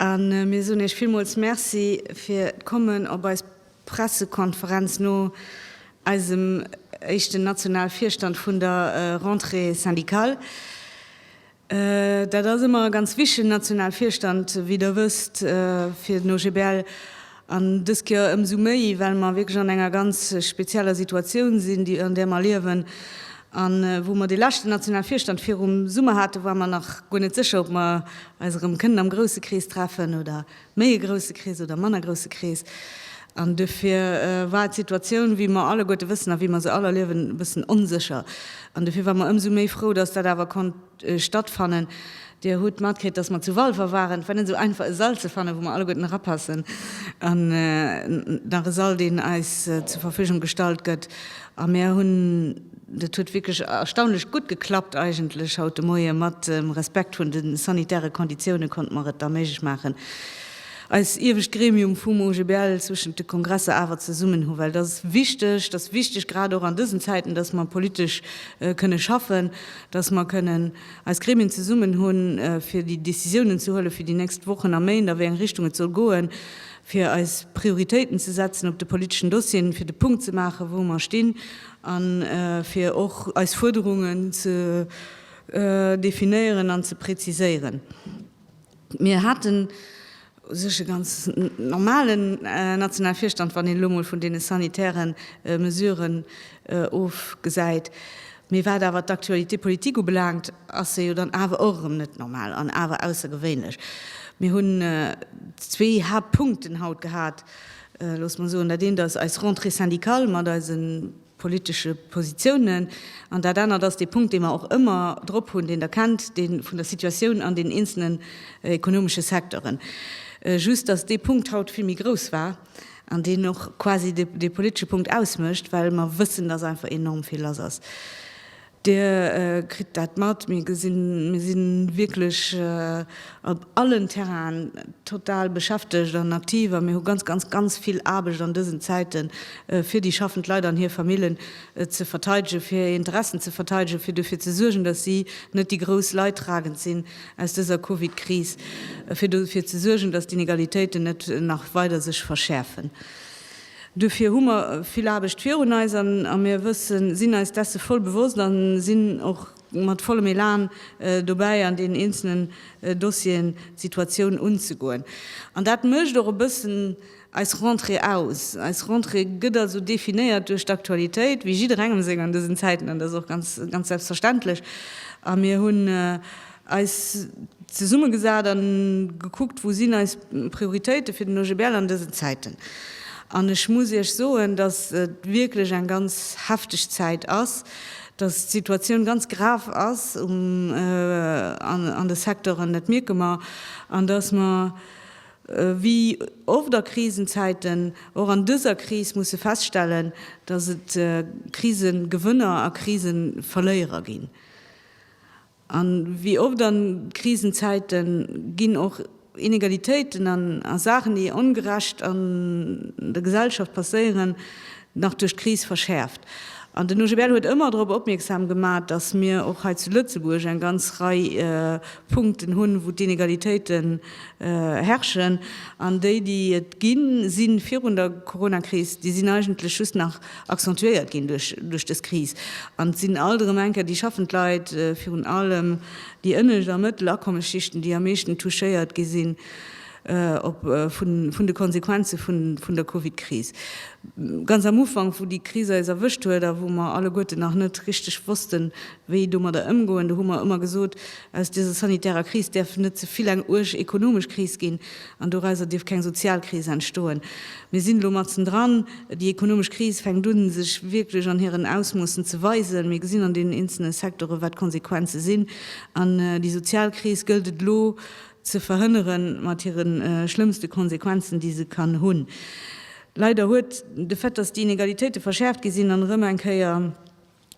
A mir soen Iech villmools Merci fir d'Kommen op eis Pressekonferenz no eisem éischten nationale Virstand vun der Rentrée syndicale. Dat ass ëmmer ganz wichteg, den Nationalvirstand, wéi Der wësst, fir den OGBL. An dës Kéier ëmsou méi, well mer wierklech an enger ganz spezieller Situatioun sinn, déi, an där mer liewen. An wou mer dee leschten Nationalvirstand virum Summer haten, ware mer nach guer net sécher, ob mer eis erëm kënnen am grousse Krees treffen oder méi e grousse Krees oder e manner grousse Krees, an dofir war d'Situatioun, wéi mer alleguerte wëssen a wéi mer se all erliewen, e bëssen onsécher. An dofir ware mer ëmsou méi frou, dass dat awer konnt stattfannen. Dir hutt matkritt, dass mer zu Walfer waren. Et war net esou einfach, e Sall ze fannen, wou mer alleguerten erapassen, an nach e Sall, deen eis zur Verfügung gestallt gëtt. A mir hunn Dat huet wierklech erstaunlech gutt geklappt eigentlech haut de Moie. Mat Respekt vun de sanitäre Konditioune konnte mer et da méiglech maachen, eis iewescht Gremium vum OGBL zwëschent de Kongresser awer zesummen hu well. Dat ass wichteg, dat ass wichteg grad och an dësen Zäiten, datt mer politesch kënne schaffen, datt mer kënnen eis Gremien zesummen hunn, fir déi Décisiounen ze huelen, fir déi nächst Wochen a Méint, a wéi eng Richtung et soll goen, fir eis Prioritéiten ze setzen op de politeschen Dossieren, fir de Punkt ze maachen, wou mer stinn. A fir och eis Fuerderungen ze definéieren an ze präziséieren. Mir haten u sech e ganz normalen nationale Virstand, wann een elo emol vun deene sanitäre Mesuren ofgesäit. Mee wat awer d'Actualité politique ubelaangt, ass se jo dann awer och erëm net normal an awer aussergewéinlech. Mir hunn zwee Haaptpunkten haut gehat. looss mer soen, dat eent ass eis Rentrée syndicale mat eise politesche Positiounen an dat anert ass dee Punkt, dee mer och ëmmer drop hunn, deen Der kennt, dee vun der Situatioun an den eenzelnen ekonomesche Secteuren. Just datt dee Punkt haut vill méi grouss war an deen och quasi dee politesche Punkt ausmécht, well mer wëssen, datt einfach enorm vill lass ass. Dir kritt dat mat, mir gesinn, mir si wierklech op allen Terrainen total beschäftegt an aktiv a mir hu ganz, ganz, ganz vill Aarbecht an dësen Zäiten, fir déi schaffend Leit an hir Famillen ze verteidegen, fir hir Interessen ze verteidegen, fir dofir ze suergen, dass si net déi grouss Leidtragend sinn aus dëser Covid-Kris, fir dofir ze suergen, dass d'Inegalitéiten net nach weider sech verschäerfen. Duerfir hu mer vill Aarbecht virun eis a mir wëssen, sinn eis desse voll bewosst a sinn och mat vollem Elan dobäi, an deenen eenzelnen Dossieren d'Situatioun unzegoen. An dat mécht och e bëssen eis Rentrée aus. Eis Rentrée gëtt also definéiert duerch d'Aktualitéit, wéi jidderengem seng an dësen Zäiten, an dat ass och ganz selbstverständlech. A mir hunn. Eis zesummegesat a gekuckt, wou sinn eis Prioritéite fir den OGBL an dësen Zäiten. An ech muss Iech soen, datt et wierklech eng ganz hefteg Zäit ass, datt d'Situatioun ganz grav ass an de Secteuren, dat mierke mer, an datt mer wéi oft a Krisenzäiten och an dëser Kris musse feststellen, datt et Krisegewënner a Kriseverléierer ginn. A wéi oft a Krisenzäite ginn och Inegalitéiten a Saachen, déi ongerecht an der Gesellschaft passéieren, nach duerch d'Kris verschäerft. An den OGBL huet ëmmer drop opmierksam gemat, datt mir och hei zu Lëtzebuerg eng ganz Rei Punkten hunn, wou d'Inegalitéite herrschen. An déi, déi et ginn, si virun der Coronakris, déi sinn eigentlech just nach accentuéiert ginn duerch dës Kris. An et sinn alt erëm eng Kéier déi schaffend Leit, virun allem déi ënnescht a mëttel Akommesschichten, déi am meeschten touchéiert gi sinn vun de Konsequenze vun der Covid-Kris. Ganz am Ufank, wou déi Kris eis erwëscht huet a wou mer alleguerten nach net richteg wossten, wéi domadder ëmgoen, do hu mer ëmmer gesot, aus dëser sanitärer Kris däerf net ze vill eng uerg ekonomesch Kris ginn, An dorauser dierf keng Sozialkris entstoen. Mir sinn elo matzen dran. Déi ekonomesch Kris fänkt u sech wierklech an hiren Ausmoossen ze weisen. Mir gesinn an deenen eenzelne Secteure wat d'Konsequenze sinn. An déi Sozialkris gëllt et elo ze verhënnere mat hire schlëmmste Konsequenzen, déi se kann hunn. Leider huet de Fait, datt déi Inegalitéite verschäerft gi sinn an erëm eng Kéier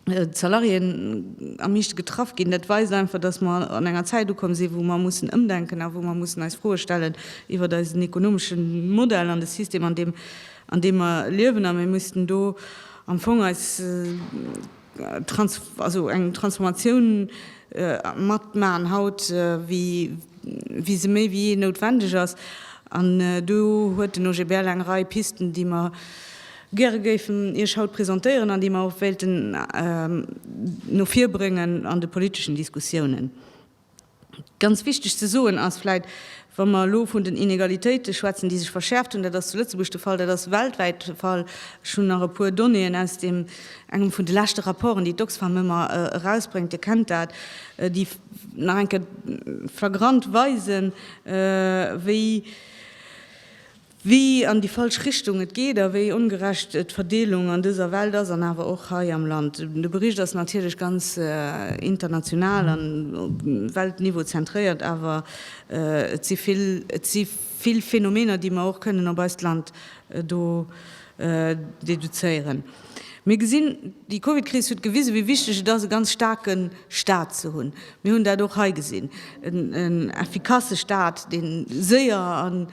D'Salariéen am meeschte getraff ginn. Dat weist einfach, datt mer an enger Zäit ukomm sinn, wou mer mussen ëmdenken a wou mer mussen eis Froe stellen iwwert eisen ekonomesche Modell an de System, an deem an deem mer liewen. A mir mussen do am Fong eis trans also eng Transformatioun matmaachen haut, wéi wéi se méi wéi jee noutwendeg ass. An do huet den OGBL eng Rei Pisten, déi mer, gäre géifen Iech haut presentéieren an déi mer och wéilten no vir bréngen an de politeschen Diskussiounen. Ganz wichteg ze soen ass vläicht, wa mer elo vun den Inegalitéite schwätzen, déi sech verschäerft hunn, dat ass zu Lëtzebuerg de Fall, dat ass weltwäit de Fall, ech hunn nach e puer Donnéeën aus deem engem vun de leschte Rapporten, déi d'Oxfam ëmmer erausbréngt, Dir kennt dat, déi nach eng Kéier flagrant weisen, wéi wéi an déi falsch Richtung et geet a wéi ongerecht d'Verdeelung an dëser Welt ass an awer och hei am Land. De Bericht ass natierlech ganz international an op Weltniveau zentréiert, awer et si vill, et si vill Phänomener, déi mer och kënnen op eist Land do deduzéieren. Mir gesinn, déi Covid-Kris huet gewisen, wéi wichteg et ass, e ganz staarke Staat ze hunn. Mir hunn dat och hei gesinn, en effikasse Staat, dee séier a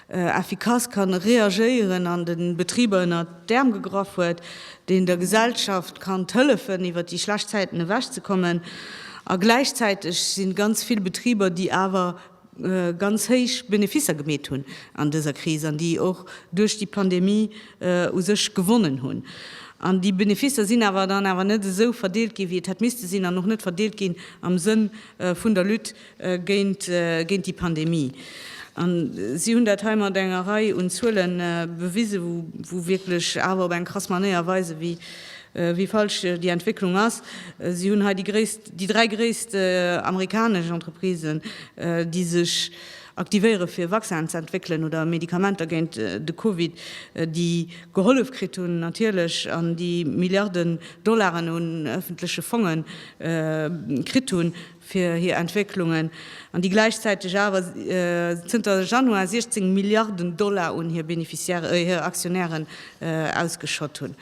effikass kann reagéieren an de Betriber ënner d'Äerm gegraff huet, deen der Gesellschaft kann hëllefen iwwer déi schlecht Zäiten ewech ze kommen. A gläichzäiteg si ganz vill Betriber, déi awer ganz héich Beneficer gemeet hunn an dëser Kris an déi och duerch déi Pandemie u sech gewonnen hunn. An déi Beneficer sinn awer dann awer net esou verdeelt ginn, wéi et hätt misste sinn an och net verdeelt ginn am Sënn vun der Lutte géint géint déi Pandemie. A si hunn dat hei mat enger Rei un Zuele bewise wou wou wierklech awer op eng krass Manéier weise wéi wéi falsch déi Entwécklung ass. Si hunn hei déi gréisst déi dräi gréisst amerikanesch Entreprisen, déi sech aktivéiere fir Vaccinen ze entwéckelen oder Medikamenter géint de Covid, déi gehollef kritt hunn natierlech an déi Milliarden Dollaren un ëffentleche Fonge kritt hunn, fir hir Entwécklungen, an déi gläichzäiteg awer zënter Januar 16 Milliarden Dollar un hir Beneficiairen, hir Aktionären ausgeschott hunn.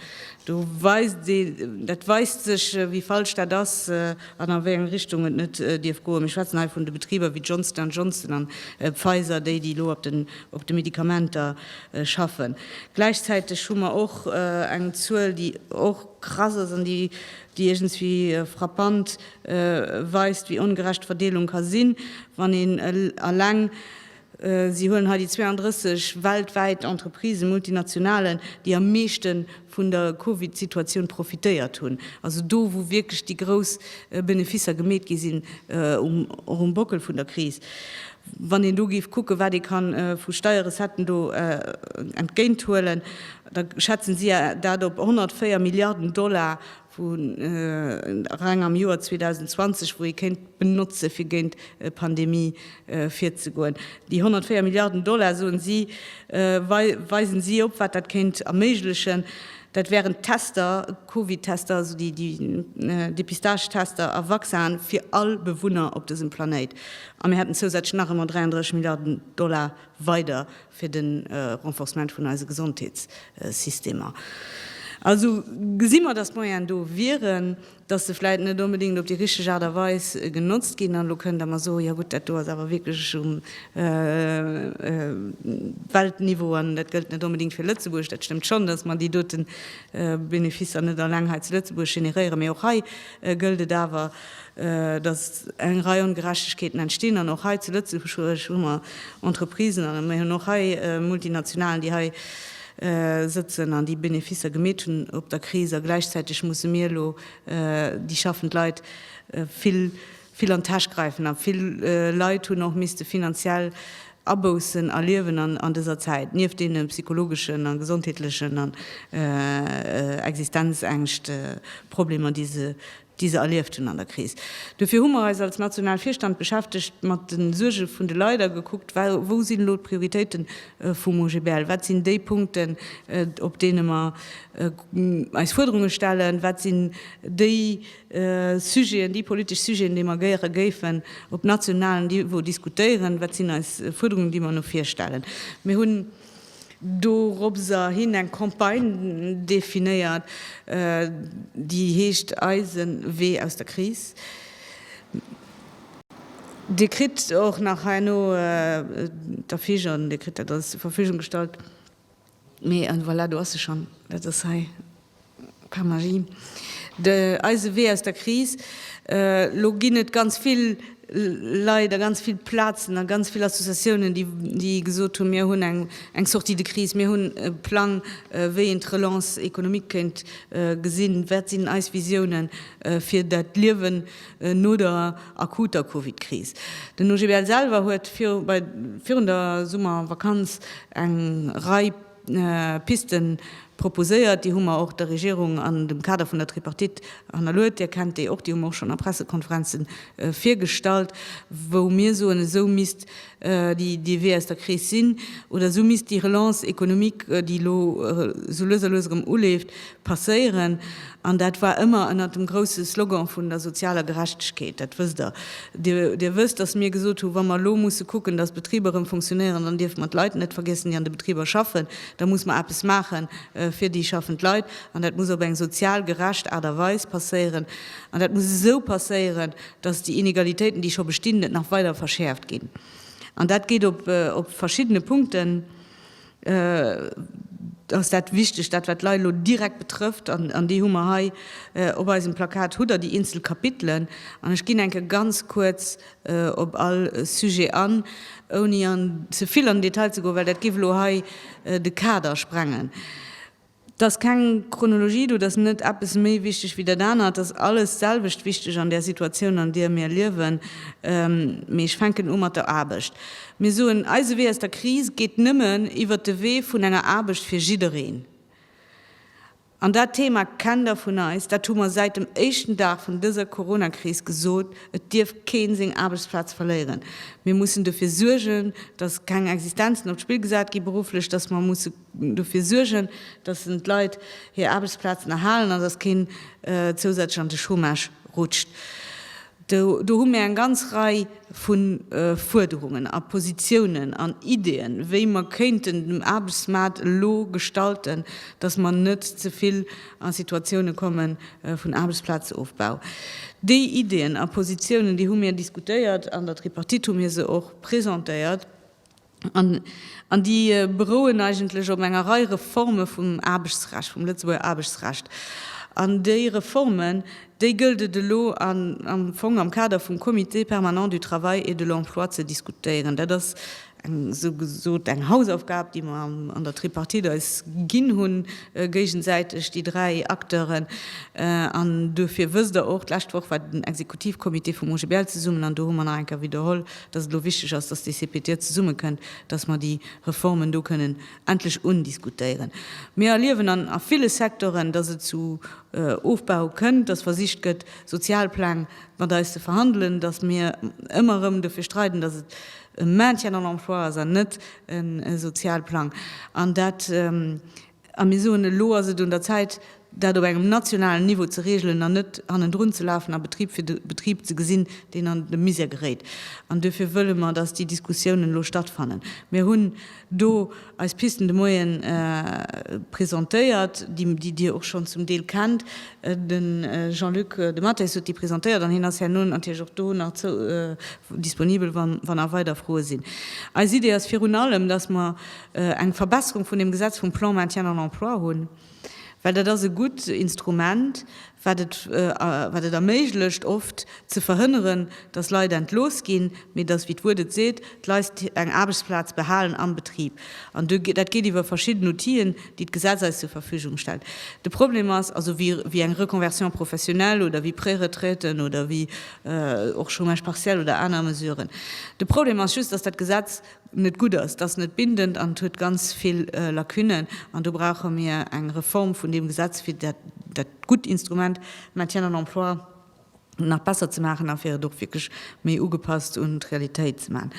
Do weist ee, dat weist sech, wéi falsch dat ass an a wéi eng Richtung et net dierf goen. Mir schwätzen hei vun de Betriber wéi Johnson and Johnson an Pfizer, déi, déi elo op de Medikamenter schaffen. Gläichzäiteg hu mer och eng Zuel, déi och krass ass an déi déi iergendwéi frappant weist, wéi ongerecht d'Verdeelung ka sinn, wann een eleng, si huelen hei déi 32 weltwäit Entreprisen, Multinationalen, déi am meeschte vun der Covid-Situatioun profitéiert hunn, also do, wou wierklech déi grouss Beneficer gemeet gi sinn, och um Bockel vun der Kris, wann een do géif kucken, wat ee ka vu Steierrecetten do entgéinthuelen. da schätzen si dat op 104 Milliarden Dollar, wou reng am Joer 2020, wou ee kéint benotzen, fir géint d'Pandemie virzegoen. Déi 104 Milliarden Dollar, soen si, weisen si op, wat dat kéint erméiglechen, Dat wären d'Tester, d'Covid-Tester, also déi Depistage-Tester a Vaccinen fir all Bewunner op dësem Planéit. A mir hätten zousätzlech nach emol 33 Milliarden Dollar weider fir de Renforcement vun eise Gesondheetssystemer. Also gesi mer, datt d'Moyenen do wieren, datt se vläicht net onbedéngt op déi richteg Aart a Weis genotzt ginn. An elo kënnt Der mer soen, jo gutt, dat do ass awer wierklech um Weltniveau an dat gëllt net onbedéngt fir Lëtzebuerg. Dat stëmmt schonn, datt mer déi dote Beneficer net alleng hei zu Lëtzebuerg generéieren, mee och hei gëllt et awer, dass eng Rei Ongerechtegkeeten entstinn. An och hei zu Lëtzebuerg hu mer Entreprisen an mir hunn och hei Multinationalen, déi hei sëtzen an déi Beneficer gemeet hunn op der Kris. A gläichzäiteg musse mir elo déi schaffend Leit vill an d'Täsch gräifen. A vill Leit hunn och misste finanziell Aboussen erliewen an dëser Zäit, nieft deene psychologeschen a gesondheetlechen an Existenzängscht, Problemer, déi se déi se erlieft hunn an der Kris. Dofir hu mer eis als national Virstand beschäftegt mat de Suerge vun de Leit a gekuckt, wou sinn elo d'Prioritéite vum OGBL, wat sinn déi Punkten, op deene mer eis Fuerderunge stellen, wat sinn déi Sujeten, déi politesch Sujeten, déi mer gäre géifen op nationalem Niveau diskutéieren, wat sinn eis Fuerderungen, déi mer no vir stellen. Mir hunn. doropser hin eng Campagne definéiert, déi heescht Eisen Wee aus der Kris. Dir kritt och nach herno d'Affiche, Dir kritt dat alles zur Verfügung gestallt. Mee voilà, do ass se schonn, dat ass hei. Par magie. De eise Wee aus der Kris. Elo ginn et ganz vill Leit a ganz vill Plazen a ganz vill Associatiounen, déi, déi gesot hunn, mir hunn eng, eng Sortie de crise, mir hunn e Plang, wéi een d'Relance économique kéint gesinn, wat sinn eis Visiounen fir dat Liewen no der akuter Covid-Kris. Den OGBL selwer huet viru, bei, virun der Summervakanz eng Rei. Pisten proposéiert. Déi hu mer och der Regierung an dem Kader vun der Tripartite hannerluet. Dir kennt déi och, déi hu mer och schonn a Pressekonferenze virgestallt, wou mir soen, esou misst déi Wee aus der Kris sinn oder esou misst déi Relance économique, déi elo esou lues a lues erëm uleeft, passéieren, an dat war ëmmer ënnert dem grousse Slogan vun der sozialer Gerechtegkeet, dat wësst Der. Dir wësst, dass mir gesot hu wa mer elo musse kucken, dass d'Betriber erëm funktionéieren, dann dierfe mer d'Leit net vergiessen, déi an de Betriber schaffen, da muss mer eppes maache fir déi schaffend Leit, an dat muss op eng sozial gerecht Aart a Weis passéieren, an dat muss esou passéieren, dass déi Inegalitéiten, déi scho bestinn, net nach weider verschäerft ginn. An dat geet op verschiddene Punkten. Et ass dat wichteg, dat wat d'Leit elo direkt betrëfft, an déi hu mer hei op eisem Plakat, hutt Der déi eenzel Kapitelen. An ech ginn enke ganz kuerz op all Sujet an, ouni ze vill an den Detail ze goen, well dat géif elo hei de Kader sprengen. 't ass keng Chronologie do, 't ass net eppes méi wichteg wéi dat aner, 't ass alles d'selwecht wichteg an där Situatioun an deer mir liewen. Mee ech fänken u mat der Aarbecht. Mir soen, eise Wee aus der Kris geet nëmmen iwwert de Wee vun enger Aarbecht fir jiddereen. An dat Thema kennt der vun eis, dat hu mer säit dem éischten Dag vun dëser Coronakris gesot, et dierf keen seng Aarbechtsplaz verléieren. Mir mussen dofir suergen, datt keng Existenzen op d'Spill gesat gi berufflech, datt mer musse. dofir suergen, dass en d'Leit hir Aarbechtsplazen erhalen an dass keen zousätzlech an de Chômage rutscht. Do hu mir eng ganz Rei vu Fuerderungen a Positiounen an Ideeën, wéi mer kéinten den Aarbechtsmaart elo gestalten, dass mer net ze vill a Situatiounen komme vun Aarbechtsplazofbau. Déi Ideeën a Positiounen, déi hu mir diskutéiert, an der Tripartite hu mir se och presentéiert. An déi berouen eigentlech op enger Rei Reforme vum Aarbechtsrecht, vum Lëtzebuerger Aarbechtsrecht. An déi Reformen, déi gëllt et elo am Fong am Kader vum Comité permanent du travail et de l'emploi ze diskutéieren. Dat ass eng esou gesot eng Hausaufgab, déi mer an der Tripartite eis ginn hunn géigesäiteg, déi dräi Acteuren. An duerfir wësst Der och, d'lescht Woch war den Exekutivcomité vum OGBL zesummen an do hu mer nach eng Kéier widderholl, dass et elo wichteg ass, dass déi CPTE zesummekënnt, dass mer déi Reformen do kënnen endlech undiskutéieren. Mir erliewen an a ville Secteuren, dass et zu Ofbau kënnt, dass versicht gëtt, Sozialpläng mat eis ze verhandelen, dass mir ëmmer erëm dofir streiden, dass et e Maintien en emploi ass an net e Sozialplang. An dat A mir soen, elo ass et un der Zäit, dat op engem nationalen Niveau ze regelen an net hannendrun ze lafen a Betrib fir Betrib ze gesinn, deen an de Misère geréit. An duerfir wëlle mer, dass déi Diskussiounen elo stattfannen. Mir hunn do eis Pisten de Moyene presentéiert, déi Dir och schonn zum Deel kennt. De Jean-Luc Dematteis huet déi presentéiert an hien ass herno natierlech och do nach disponibel, wann nach weider Froe sinn. Eis Idee ass virun allem, dass mer eng Verbesserung vun deem Gesetz vum Plan Maintien en emploi hunn, well dat ass e gutt Instrument, wat et wat et erméiglecht oft ze verhënneren, datt Leit entlooss ginn, mee datt, wéi d'Wuert et seet, d'Leit eng Aarbechtsplaz behalen am Betrib. An do dat geet iwwer verschidden Outien, déi d'Gesetz eis zur Verfügung stellt. De Problem ass also, wéi wéi eng Reconversion professionnelle oder wéi Préretraiten oder wéi och Chômage partiel oder aner Mesuren, de Problem ass just, datt dat Gesetz, net gutt ass, et ass net bindend an et huet ganz vill Lacunnen. An do brauche mir eng Reform vun deem Gesetz, fir dat gutt Instrument Maintien en emploi nach besser ze maachen a fir et och wierklech méi ugepasst un d'Realitéit ze maachen.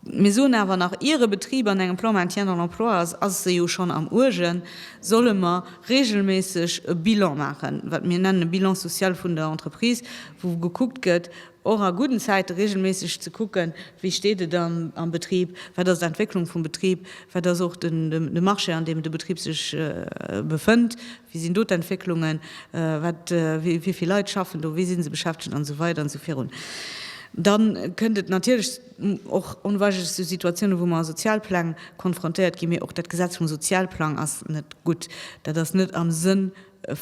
Mir soen awer nach, ier e Betrib an engem Plan Maintien en emploi ass, ass e jo schonn am Uergen, solle mer reegelméisseg e Bilan maachen, wat mir nennen e Bilan social vun der Entreprise, wou gekuckt gëtt, och a gudden Zäite reegelméisseg ze kucken, wéi steet et am Betrib, wat ass d'Entwécklung vum Betrib, wat ass och de Marché, an deem de Betrib sech befënnt, wéi sinn do d'Entwécklungen, wéi vill Leit schaffen do, wéi si se beschäftegt an esou weider an esou virun. Da kënnt et natierlech och onweigerlech zu Situatiounen, wou mer a Sozialpläng konfrontéiert ginn, mee och dat Gesetz vum Sozialplang ass net gutt, dat ass net am Sënn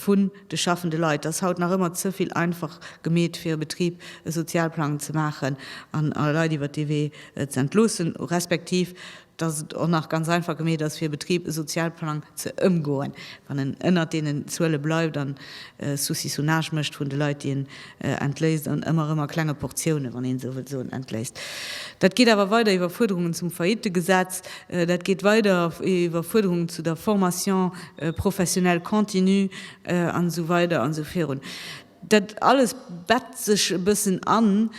vun de schaffende Leit ass haut nach ëmmer ze vill einfach gemeet, fir e Betrib e Sozialplang ze maachen an e Leit iwwert dee Wee ze entloossen, respektiv dass et och nach ganz einfach gemeet ass, fir e Betrib e Sozialplang ze ëmgoen, wann en ënnert deenen Zuele bleift an Saucissonnage mécht vun de Leit, déi en Entléisst an ëmmer erëm a klenge Portiounen, wann een esou wëll soen, entléisst. Dat geet awer weider iwwer Fuerderungen zum Faillitegesetz, dat geet weider iwwer Fuerderungen zu der Formation professionnelle continue an esou weider an esou virun. Dat alles bett sech e bëssen an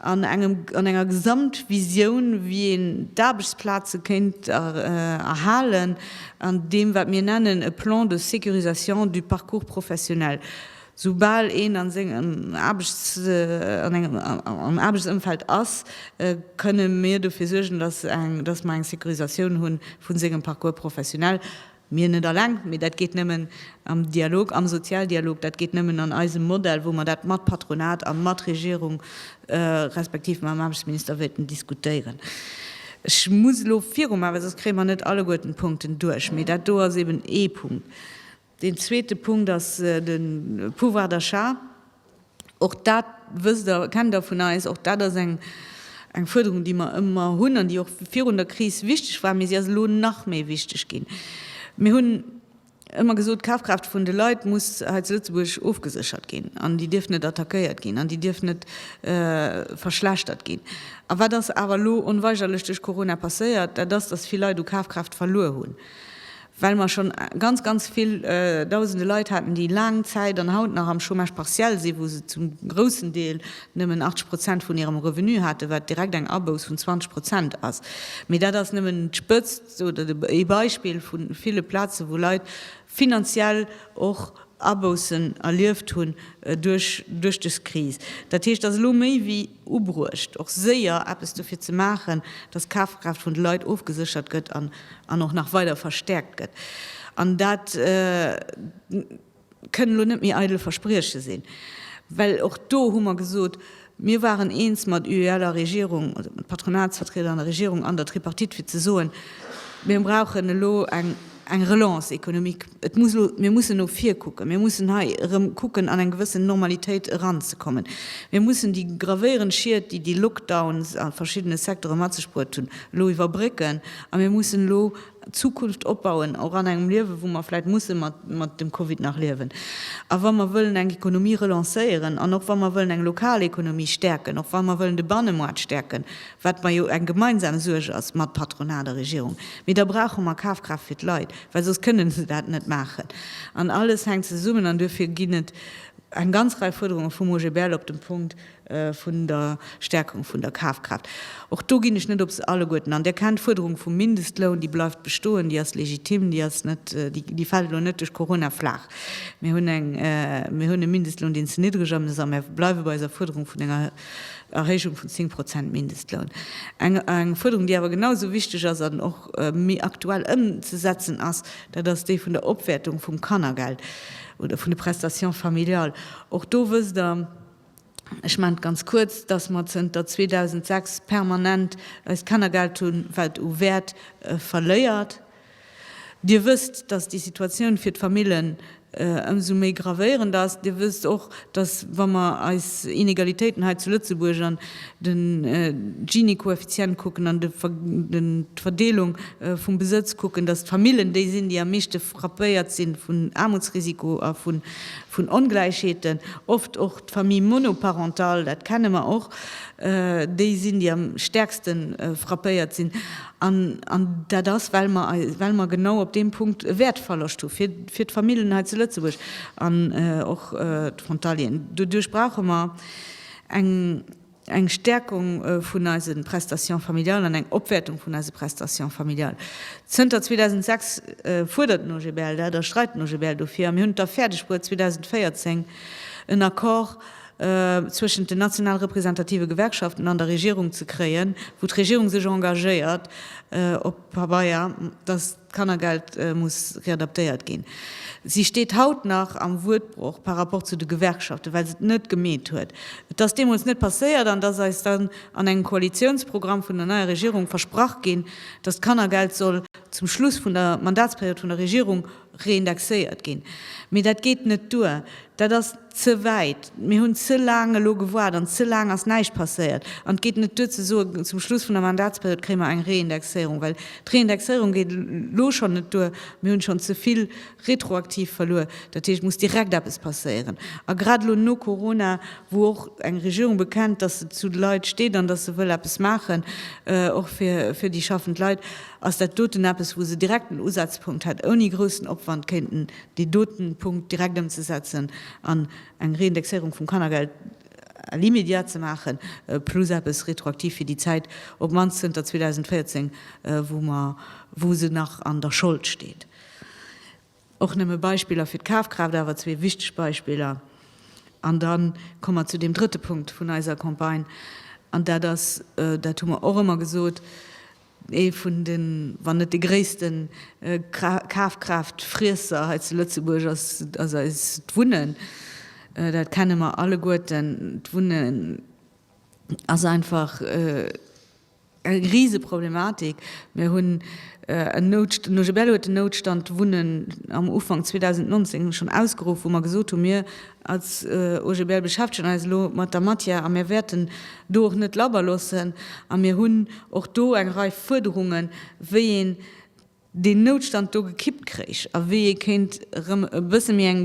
an engem, an enger Gesamtvisioun, wéi een d'Aarbechtsplaze kéint erhalen an deem, wat mir nennen e Plan de sécurisation du parcours professionnel. Soubal een an sengem Aarbechtsëmfeld ass, kënne mir dofir suergen, dass mer eng Sécurisatioun hu vu sengem Parcours professionnel. Mir net alleng, mee dat geet nëmmen am Dialog, am Sozialdialog, dat geet nëmmen an eisem Modell, wou mer dat mat Patronat a mat Regierung respektiv mam Aarbechtsminister wéilten diskutéieren. Ech muss elo virumaachen, soss kréie mer net alleguerten d'Punkten duerch, mee dat do ass eeben ee Punkt. Deen zweete Punkt ass de Pouvoir d'achat. Och dat wësst Der, kennt Der vun eis. Och dat ass eng Fuerderung, déi mer ëmmer hunn an déi och virun der Kris wichteg war, mee si ass elo nach méi wichteg ginn. Mir hunn ëmmer gesot, d'Kafkraaft vun de Leit muss hei zu Lëtzebuerg ofgeséchert ginn an déi dierf net attackéiert ginn an déi dierf net verschlechtert ginn. A wat ass awer elo onweigerlech duerch Corona passéiert? Dat ass, datt vill Leit u Kafkraaft verluer hunn. well mer schonn ganz, ganz vill Dausende Leit haten, déi laang Zäit an haut nach am Chômage partiel sinn, wou se zum groussen Deel nëmmen 80 Prozent vun hirem Revenu haten, wat direkt eng Abouss vun 20 Prozent ass. Mee dat ass nëmmen d'Spëtzt oder ee Beispill vu ville Plazen, wou Leit finanziell och Aboussen erlieft hunn duerch dës Kris. Dat heescht, datt elo méi wéi. ubruecht, och séier eppes dofir ze maachen, datt d'Kafkraaft vun de Leit ofgeséchert gëtt an och nach weider verstäerkt gëtt. An dat kënnen elo net méi eidel Versprieche sinn, well och do hu mer gesot, mir waren eens mat UEL a Regierung, also mat Patronatsvertrieder an der Regierung an der Tripartite, fir ze soen, mir brauchen elo eng. Eng Relance économique, et muss elo, mir mussen no vir kucken, mir mussen hei erëm kucken an eng gewëssen Normalitéit eranzekommen. Mir mussen déi gravéierend Schied, déi déi Lockdowns a verschiddene Secteure mat sech bruet hunn, elo iwwerbrécken a mir mussen elo d'Zukunft opbauen, och an engem Liewe wou mer vläicht musse mat dem Covid nach liewen. A wa mer wëllen eng Économie relancéieren an och wa mer wëllen eng lokal Économie stäerken, och wa mer wëllen de Bannemaart stäerken, wat mer jo eng gemeinsam Suerg ass mat Patronat a Regierung, mee da brauche mer Kafkraaft fir d'Leit, well soss kënnen se dat net maachen. An alles hänkt zesummen an duerfir ginn et eng ganz Rei Fuerderunge vum OGBL op dem Punkt vun der Stärkung vun der Kafkraaft. Och do ginn ech net op se alleguerten an. Der kennt d'Fuerderung vum Mindestloun, déi bleift bestoen, déi ass legitim, déi ass net, déi fält elo net duerch Corona flaach. Mir hunn eng, mir hunn e Mindestloun, deen ze niddreg am ass a mir bleiwe bei eiser Fuerderung vun enger, Erhéijung vun 10 Prozent Mindestloun, eng Fuerderung, déi awer genau esou wichteg ass an och méi aktuell ëmzesetzen ass, dat ass déi vun der Opwäertung vum Kannergeld oder vun de Prestations familiales. Och do wësst Der, ech maachen et ganz kuerz, dass mer zënter 2006 permanent eist Kannergeld hunn, wat u Wäert verléiert. Dir wësst, dass déi Situatioun fir d'Famillen ëmsou méi gravéierend ass. Dir wësst och, dass, wa mer eis Inegalitéiten hei zu Lëtzebuerg an de Gini-Koeffizient kucken an d'Verdeelung vum Besëtz kucken, dass d'Famillen déi sinn, déi am meeschte frappéiert si vun Aarmutsrisiko a vun Ongläichheeten. Oft och d'Famille monoparentale, dat kenne mer och, déi sinn, déi am stäerkste frappéiert sinn. An dat ass, well mer, well mer genau op deem Punkt e Wäertverloscht hu fir, fir d'Famillen hei zu Lëtzebuerg an och d'Frontalieren. Doduerch brauche mer eng, eng Stärkung vun eise Prestations familiales an eng Opwäertung vun eise Prestations familiales. Zënter 2006 fuerdert den OGBL dat a streit den OGBL dofir a mir hunn et da fäerdeg bruet 2014 en Accord, zwëschent den national representative Gewerkschaften an der Regierung ze kréien, wou d'Regierung sech engagéiert, op Pabeier, dass d'Kannergeld muss readaptéiert ginn. Si steet haut nach am Wuertbroch par rapport zu de Gewerkschaften, well se et net gemeet huet. Et ass deemools net passéiert an et ass eis dann an engem Koalitiounsprogramm vun der neier Regierung versprach ginn, dass d'Kannergeld soll zum Schluss vun der Mandatsperiod vun der Regierung reindexéiert ginn. Mee dat geet net duer. Dat ass ze wäit. Mir hunn ze laang elo gewaart an ze laang ass näischt passéiert. An et geet net duer ze soen, zum Schluss vun der Mandatsperiod kréie mer eng Reindexéierung, well d'Reindexéierung geet elo schonn net duer. Mir hunn schonn ze vill retroaktiv verluer. Dat heescht, et muss direkt eppes passéieren. A grad elo no Corona, wou och eng Regierung bekennt, dass se zu de Leit steet an dass se wëll eppes maachen, och fir déi schaffend Leit, Ass dat doten eppes, wou se direkt en Usazpunkt hätt, ouni groussen Opwand kéinten dee doten Punkt direkt ëmzesetzen an eng Reindexéierung vum Kannergeld à l'immédiat ze maachen, plus eppes retroaktiv fir déi Zäit, op d'mannst zënter 2014, wou mer, wou se nach an der Schold steet? Och nëmme Beispiller fir d'Kafkraaft, awer zwee wichteg Beispiller. An da komme mer zu deem drëtte Punkt vun eiser Campagne, an dat ass, dat hu mer och ëmmer gesot, ee vun de, wann net dee gréisste Kafkraaftfriesser hei zu Lëtzebuerg ass, ass eist Wunnen. Dat kenne mer alleguerten. D'Wunnen ass einfach, Eng Riseproblematik. Mir hunn en Noutstand, Nuje Bello huet den Noutstand Wunnen am Ufank 2019 schonn ausgeruff, wou mer gesot hunn, mir als OGBL beschäftegen eis elo mat der Matière a mir wäerten do och net labber loossen. A mir hunn och do eng Rei Fuerderungen, wéi een deen Noutstand do gekippt kréich a wéi ee kéint erëm e bësse méi eng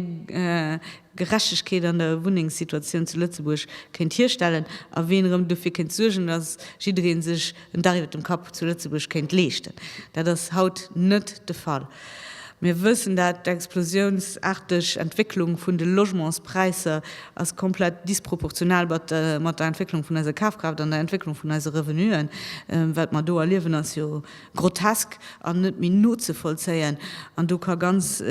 Gerechtegkeet an der Wunnengssituatioun zu Lëtzebuerg kéint hierstellen a wéi een erëm dofir kéint suergen, datt jidderee sech en Dach iwwer dem Kapp zu Lëtzebuerg kéint leeschten. Dat ass haut net de Fall. Mir wëssen dat, d'explosiounsaarteg Entwécklung vun de Logementspräisser ass komplett disproportional mat der Entwécklung vun eiser Kafkraaft an der Entwécklung vun eise Revenuen. Wat mer do erliewen, ass jo Grotesk an net méi nozevollzéien. An do ka ganz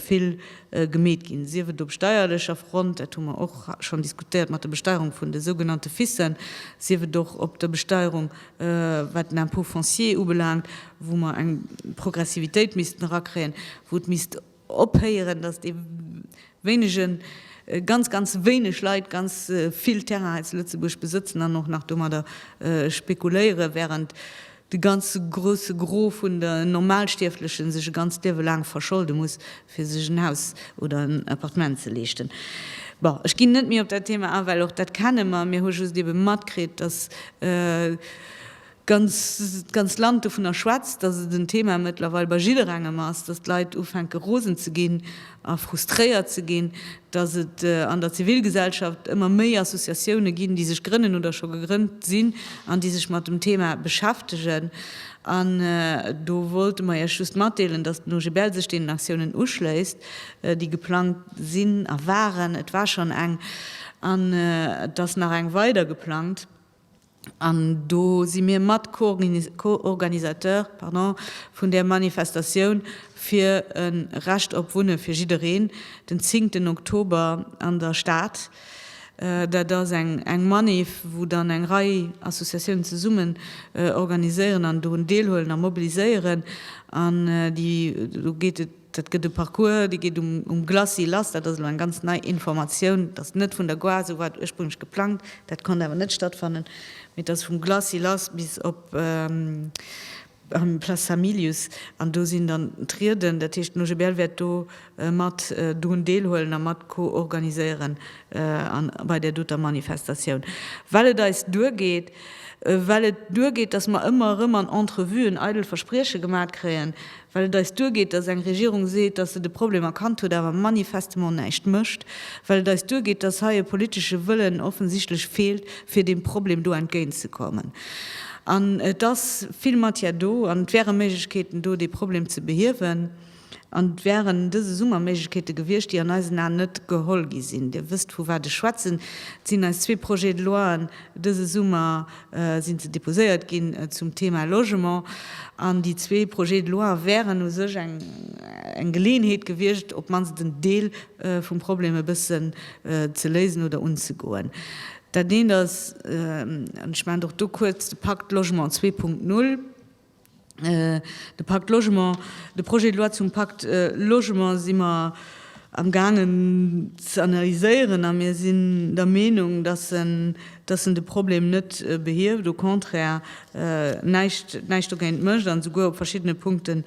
vill gemeet ginn, sief et op steierlecher Front, dat hu mer och schonn diskutéiert mat der Besteierung vun de sougenannte Fissen, sief et och op der Besteierung, wat den Impôt foncier ubelaangt, wou mer eng Progressivitéit missten erakréien, wou et misst Ophéieren, datt dee wéinegen, ganz, ganz wéineg Leit ganz vill Terrain hei zu Lëtzebuerg besëtzen an och nach domadder spekuléieren, während de ganze grouse Gros vun de Normalstierflechen sech e ganzt Liewe laang verscholde muss, fir sech en Haus oder en Appartement ze leeschten. Bon, ech ginn net méi op dat Thema an, well och dat kenne mer. Mir hu just ebe matkritt, datt, d'ganz Land dovunner schwätzt, dass et en Thema mëttlerweil bei jidderengem ass, dass d'Leit ufänke rosen ze ginn a frustréiert ze ginn, dass et an der Zivilgesellschaft ëmmer méi Associatioune ginn, déi sech grënnen oder scho gegrënnt sinn an déi sech mat dem Thema beschäftegen. An do wollte mer Iech just matdeelen, dass den OGBL sech deenen Aktiounen uschléisst, déi geplangt sinn a waren, et war schonn eng an et ass nach eng weider geplangt, An do si mir mat Co-Organisateur vun där Manifestatioun fir e Recht op Wunne fir jiddereen, den zingten Oktober an der Stad. Dat ass eng Manif, wou dann eng Rei Associatiounen zesummen organiséieren an dorun deelhuelen a mobiliséieren. An do geet et. Dat gëtt e Parcours, dee geet um Glacis lass. Dat ass elo eng ganz nei Informatioun. Et ass net vun der Gare, esou war et ursprünglech geplangt, dat konnt awer net stattfannen, mee et ass vum Glacis lass bis op d'Place Hamilius. An do sinn dann d'Rieden, dat heescht den OGBL wäert do mat drun deelhuelen a mat co-organiséieren bei där doter Manifestatioun. Well et eis duergeet, well et duergeet, datt mer ëmmer erëm an Entrevuen eidel Versprieche gemat kréien, well et eis duergeet, dass eng Regierung seet, dass se de Problem erkannt huet, awer manifestement näischt mécht, well et eis duergeet, dass hei e politesche Wëllen offensichtlech feelt, fir deem Problem do entgéint ze kommen. An et ass vill Matière do an et wäre Méiglechkeeten do, dee Problem ze behiewen. An et wären dëse Summer Méiglechkeete gewiescht, déi an eisen Aen net geholl gi sinn. Dir wësst, vu wat ech schwätzen. Et sinn eis zwee Projets de loien dëse Summer sinn se déposéiert ginn zum Thema Logement an déi zwee Projets de loi wären u sech eng Geleeënheet gewiescht, op d'mannst en Deel vum Problem e bëssen ze léisen oder unzegoen. Dat eent ass, an ech maachen och do kuerz, de Pakt Logement zwee Punkt null. De Pacte Logement, de Projet de loi zum Pacte Logement si mer am gaangen ze analyséieren a mir sinn der Meenung, dass en, dass en de Problem net behieft, au contraire näischt, näischt dogéint mécht an esouguer op verschiddene Punkte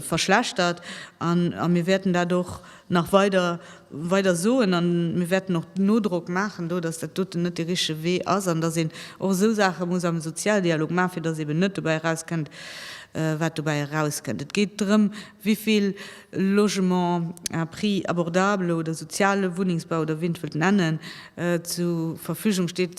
verschlechtert. A mir wäerten dat och nach weider weider soen a mir wäerten och Nodrock maachen do, datt dat doten net dee richtege Wee ass an datt een och esou Saache muss am Sozialdialog maachen, fir datt eben net dobäi erauskënnt, wat dobäi erauskënnt. Et geet drëm, wéi vill Logement à prix abordable oder soziale Wunnengsbau oder wéi een et wëllt nennen, zur Verfügung steet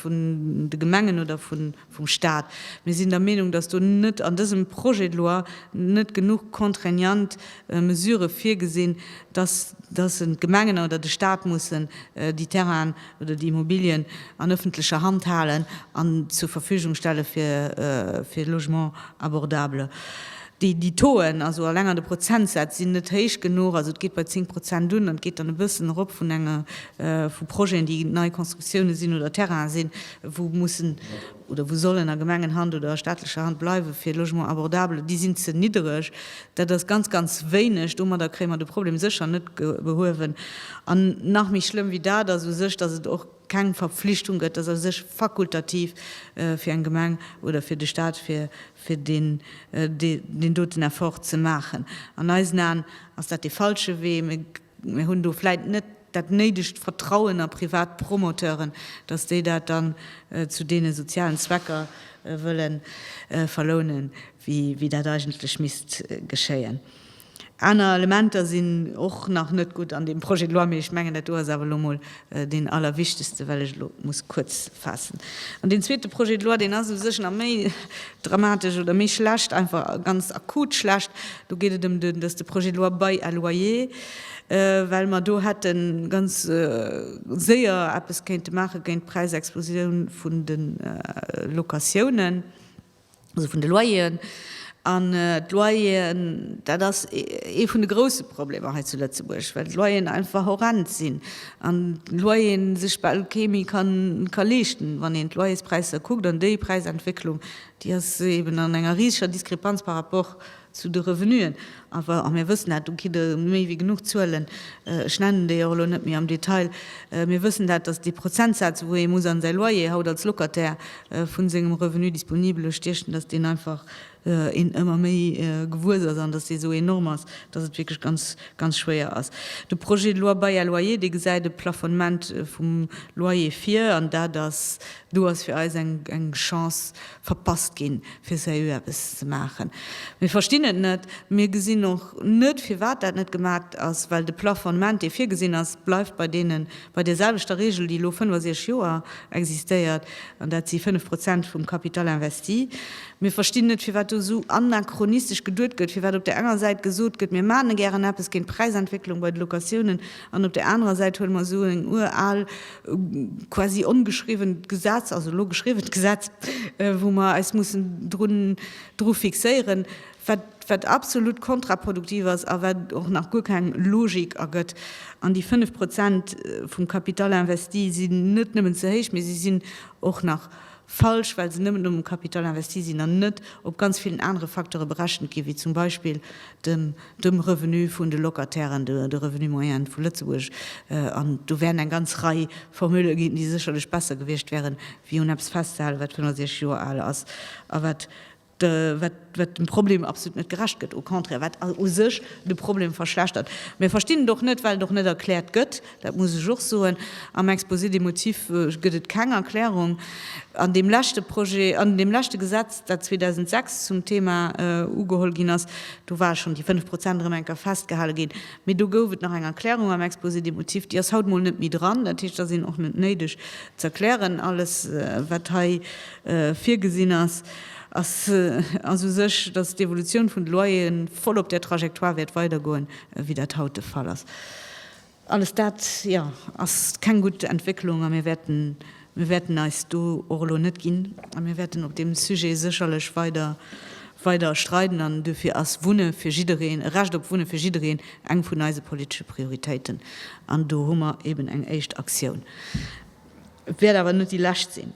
vun de Gemengen oder vun vum Stat. Mir sinn der Meenung, dass do net an dësem Projet de loi net genuch contraignant Mesurë virgesinn, dass dass d'Gemengen oder de Stat mussen déi Terrainen oder déi Immobilien an öffentlecher Hand halen an zur Verfügung stelle fir fir Logement abordable. Déi déi Tauxen, also eleng an de Prozentsätz, sinn net héich genuch. Also et geet bei 10 Prozent un an et geet dann e bëssen erop vun enge vu Projeten, déi nei Constructiounen sinn oder Terrainen sinn. wou mussen oder wou sollen a Gemengenhand oder a staatlecher Hand bleiwen, fir Logement abordable, déi sinn ze niddereg. Dat ass ganz, ganz wéineg. Domadder kréie mer de Problem sécher net behuewen. An nach méi schlëmm wéi dat ass u sech, dass et och keng Verpflichtung gëtt, dass u sech fakultativ fir eng Gemeng oder fir de Stat, fir deen doten Effort ze maachen. An eisen Aen ass dat dee falsche Wee. Mir hunn do vläit net dat néidegt Vertrauen a privat Promoteuren, datt déi dat dann zu deene sozialen Zwecker wëlle verlounen, wéi dat eigentlech misst geschéien. Aner Elementer sinn och nach net gutt an deem Projet de loi, mee ech mengen, dat do ass awer elo mol Deen allerwichtegste, well ech elo muss kuerz faassen, an deen zweete Projet de loi, deen ass u sech nach méi dramatesch oder méi schlecht, einfach ganz akut schlecht. Do geet et ëm den, dat ass de Projet de loi Bail à loyer, well mer do hätte ganz séier eppes kéinte maache géint d'Präisexplosioun vun de Locatiounen. also vun de Loyeren. An d'Loyeren, dat ass ee vun de grouse Problemer hei zu Lëtzebuerg, well d'Loyeren einfach horrend sinn an d'Loyere sech bal kee méi ka leeschten. Wann een d'Loyerspräisser kuckt an déi Präisentwécklung, déi ass eeben an enger riseger Diskrepanz par rapport Zu de Revenuen awer, a mir wëssen dat, do kritt Der méi wéi genuch Zuelen, ech nennen déi och elo net méi am Detail, mir wëssen dat, datt déi Prozentsaz, wou ee muss an säi Loyer haut als Locataire vu sengem Revenu disponible stiechen, datt deen einfach een ëmmer méi gewuess ass an datt dee sou enorm ass, datt et wierklech ganz, ganz schwéier ass. De Projet de loi Bail à loyer, dee gesäit e Plafonnement vum Loyer vir, an dat ass, do ass fir eis eng Chance, verpasst ginn, fir seriö eppes ze maachen. Mir verstinn et net. Mir gesinn och net, firwat dat net gemaat ass, well de Plafonnement, dee virgesinn ass, bleift bei deenen, bei deerselwechter Regel, déi elo 65 Joer existéiert, an dat si 5 Prozent vum Capital investi. Mir verstinn net, firwat do esou anachronistesch geduet gëtt, firwat op där enger Säit gesot gëtt, mir maache gären eppes géint d'Präisentwécklung bei de Locatiounen, an op där anerer Säit huele mer esou eng ural, quasi ongeschriwwent Gesetz, also elo geschriwwent Gesetz, wou mer eis mussen drun, dru fixéieren, wat, wat absolut kontraproduktiv ass a wat och nach guer keng Logik ergëtt. An déi 5 Prozent vum Capital investi sinn net nëmmen ze héich, mee se sinn och nach falsch, well se nëmmen um Capital investi sinn an net op ganz villen anere Facteure berechent ginn, wéi zum Beispill dem dem Revenu vun de Locatairen, de Revenu moyen vu Lëtzebuerg, an do wären eng ganz Rei Formule ginn, déi sécherlech besser gewiescht wären, wéi un eppes festzehalen, wat 65 Joer al ass a wat dem Problem absolut net gerecht gëtt, au contraire, wat u sech de Problem verschlechtert. Mir verstinn et och net, well et och net erkläert gëtt, Dat muss ech och soen. Am Exposé des motifs gëtt et keng Erklärung. An deem leschte Projet, an deem leschte Gesetz, dat 2006 zum Thema ugeholl ginn ass, do ware schonn déi fënnf Prozent erëm eng Kéier festgehale ginn. Mee do gouf et nach eng Erklärung am Exposé des motifs. Déi ass haut mol net méi dran. Dat heescht, et ass een och net néideg ze erklären. Alles, wat hei virgesinn ass, ass u sech, dass d'Evolutioun vun de Loyeren voll op där Trajectoire wäert weidergoen, wéi dat haut de Fall ass. Alles dat, jo, ass keng gutt Entwécklung a mir wäerten, mir wäerten eis do och elo net ginn a mir wäerten op deem Sujet sécherlech weider, weider streiden an duerfir ass Wunne fir jiddereen, e Recht op Wunne fir jiddereen eng vun eise politesche Prioritéiten an do hu mer eben eng éischt Aktioun. Et wäert awer net déi lescht sinn.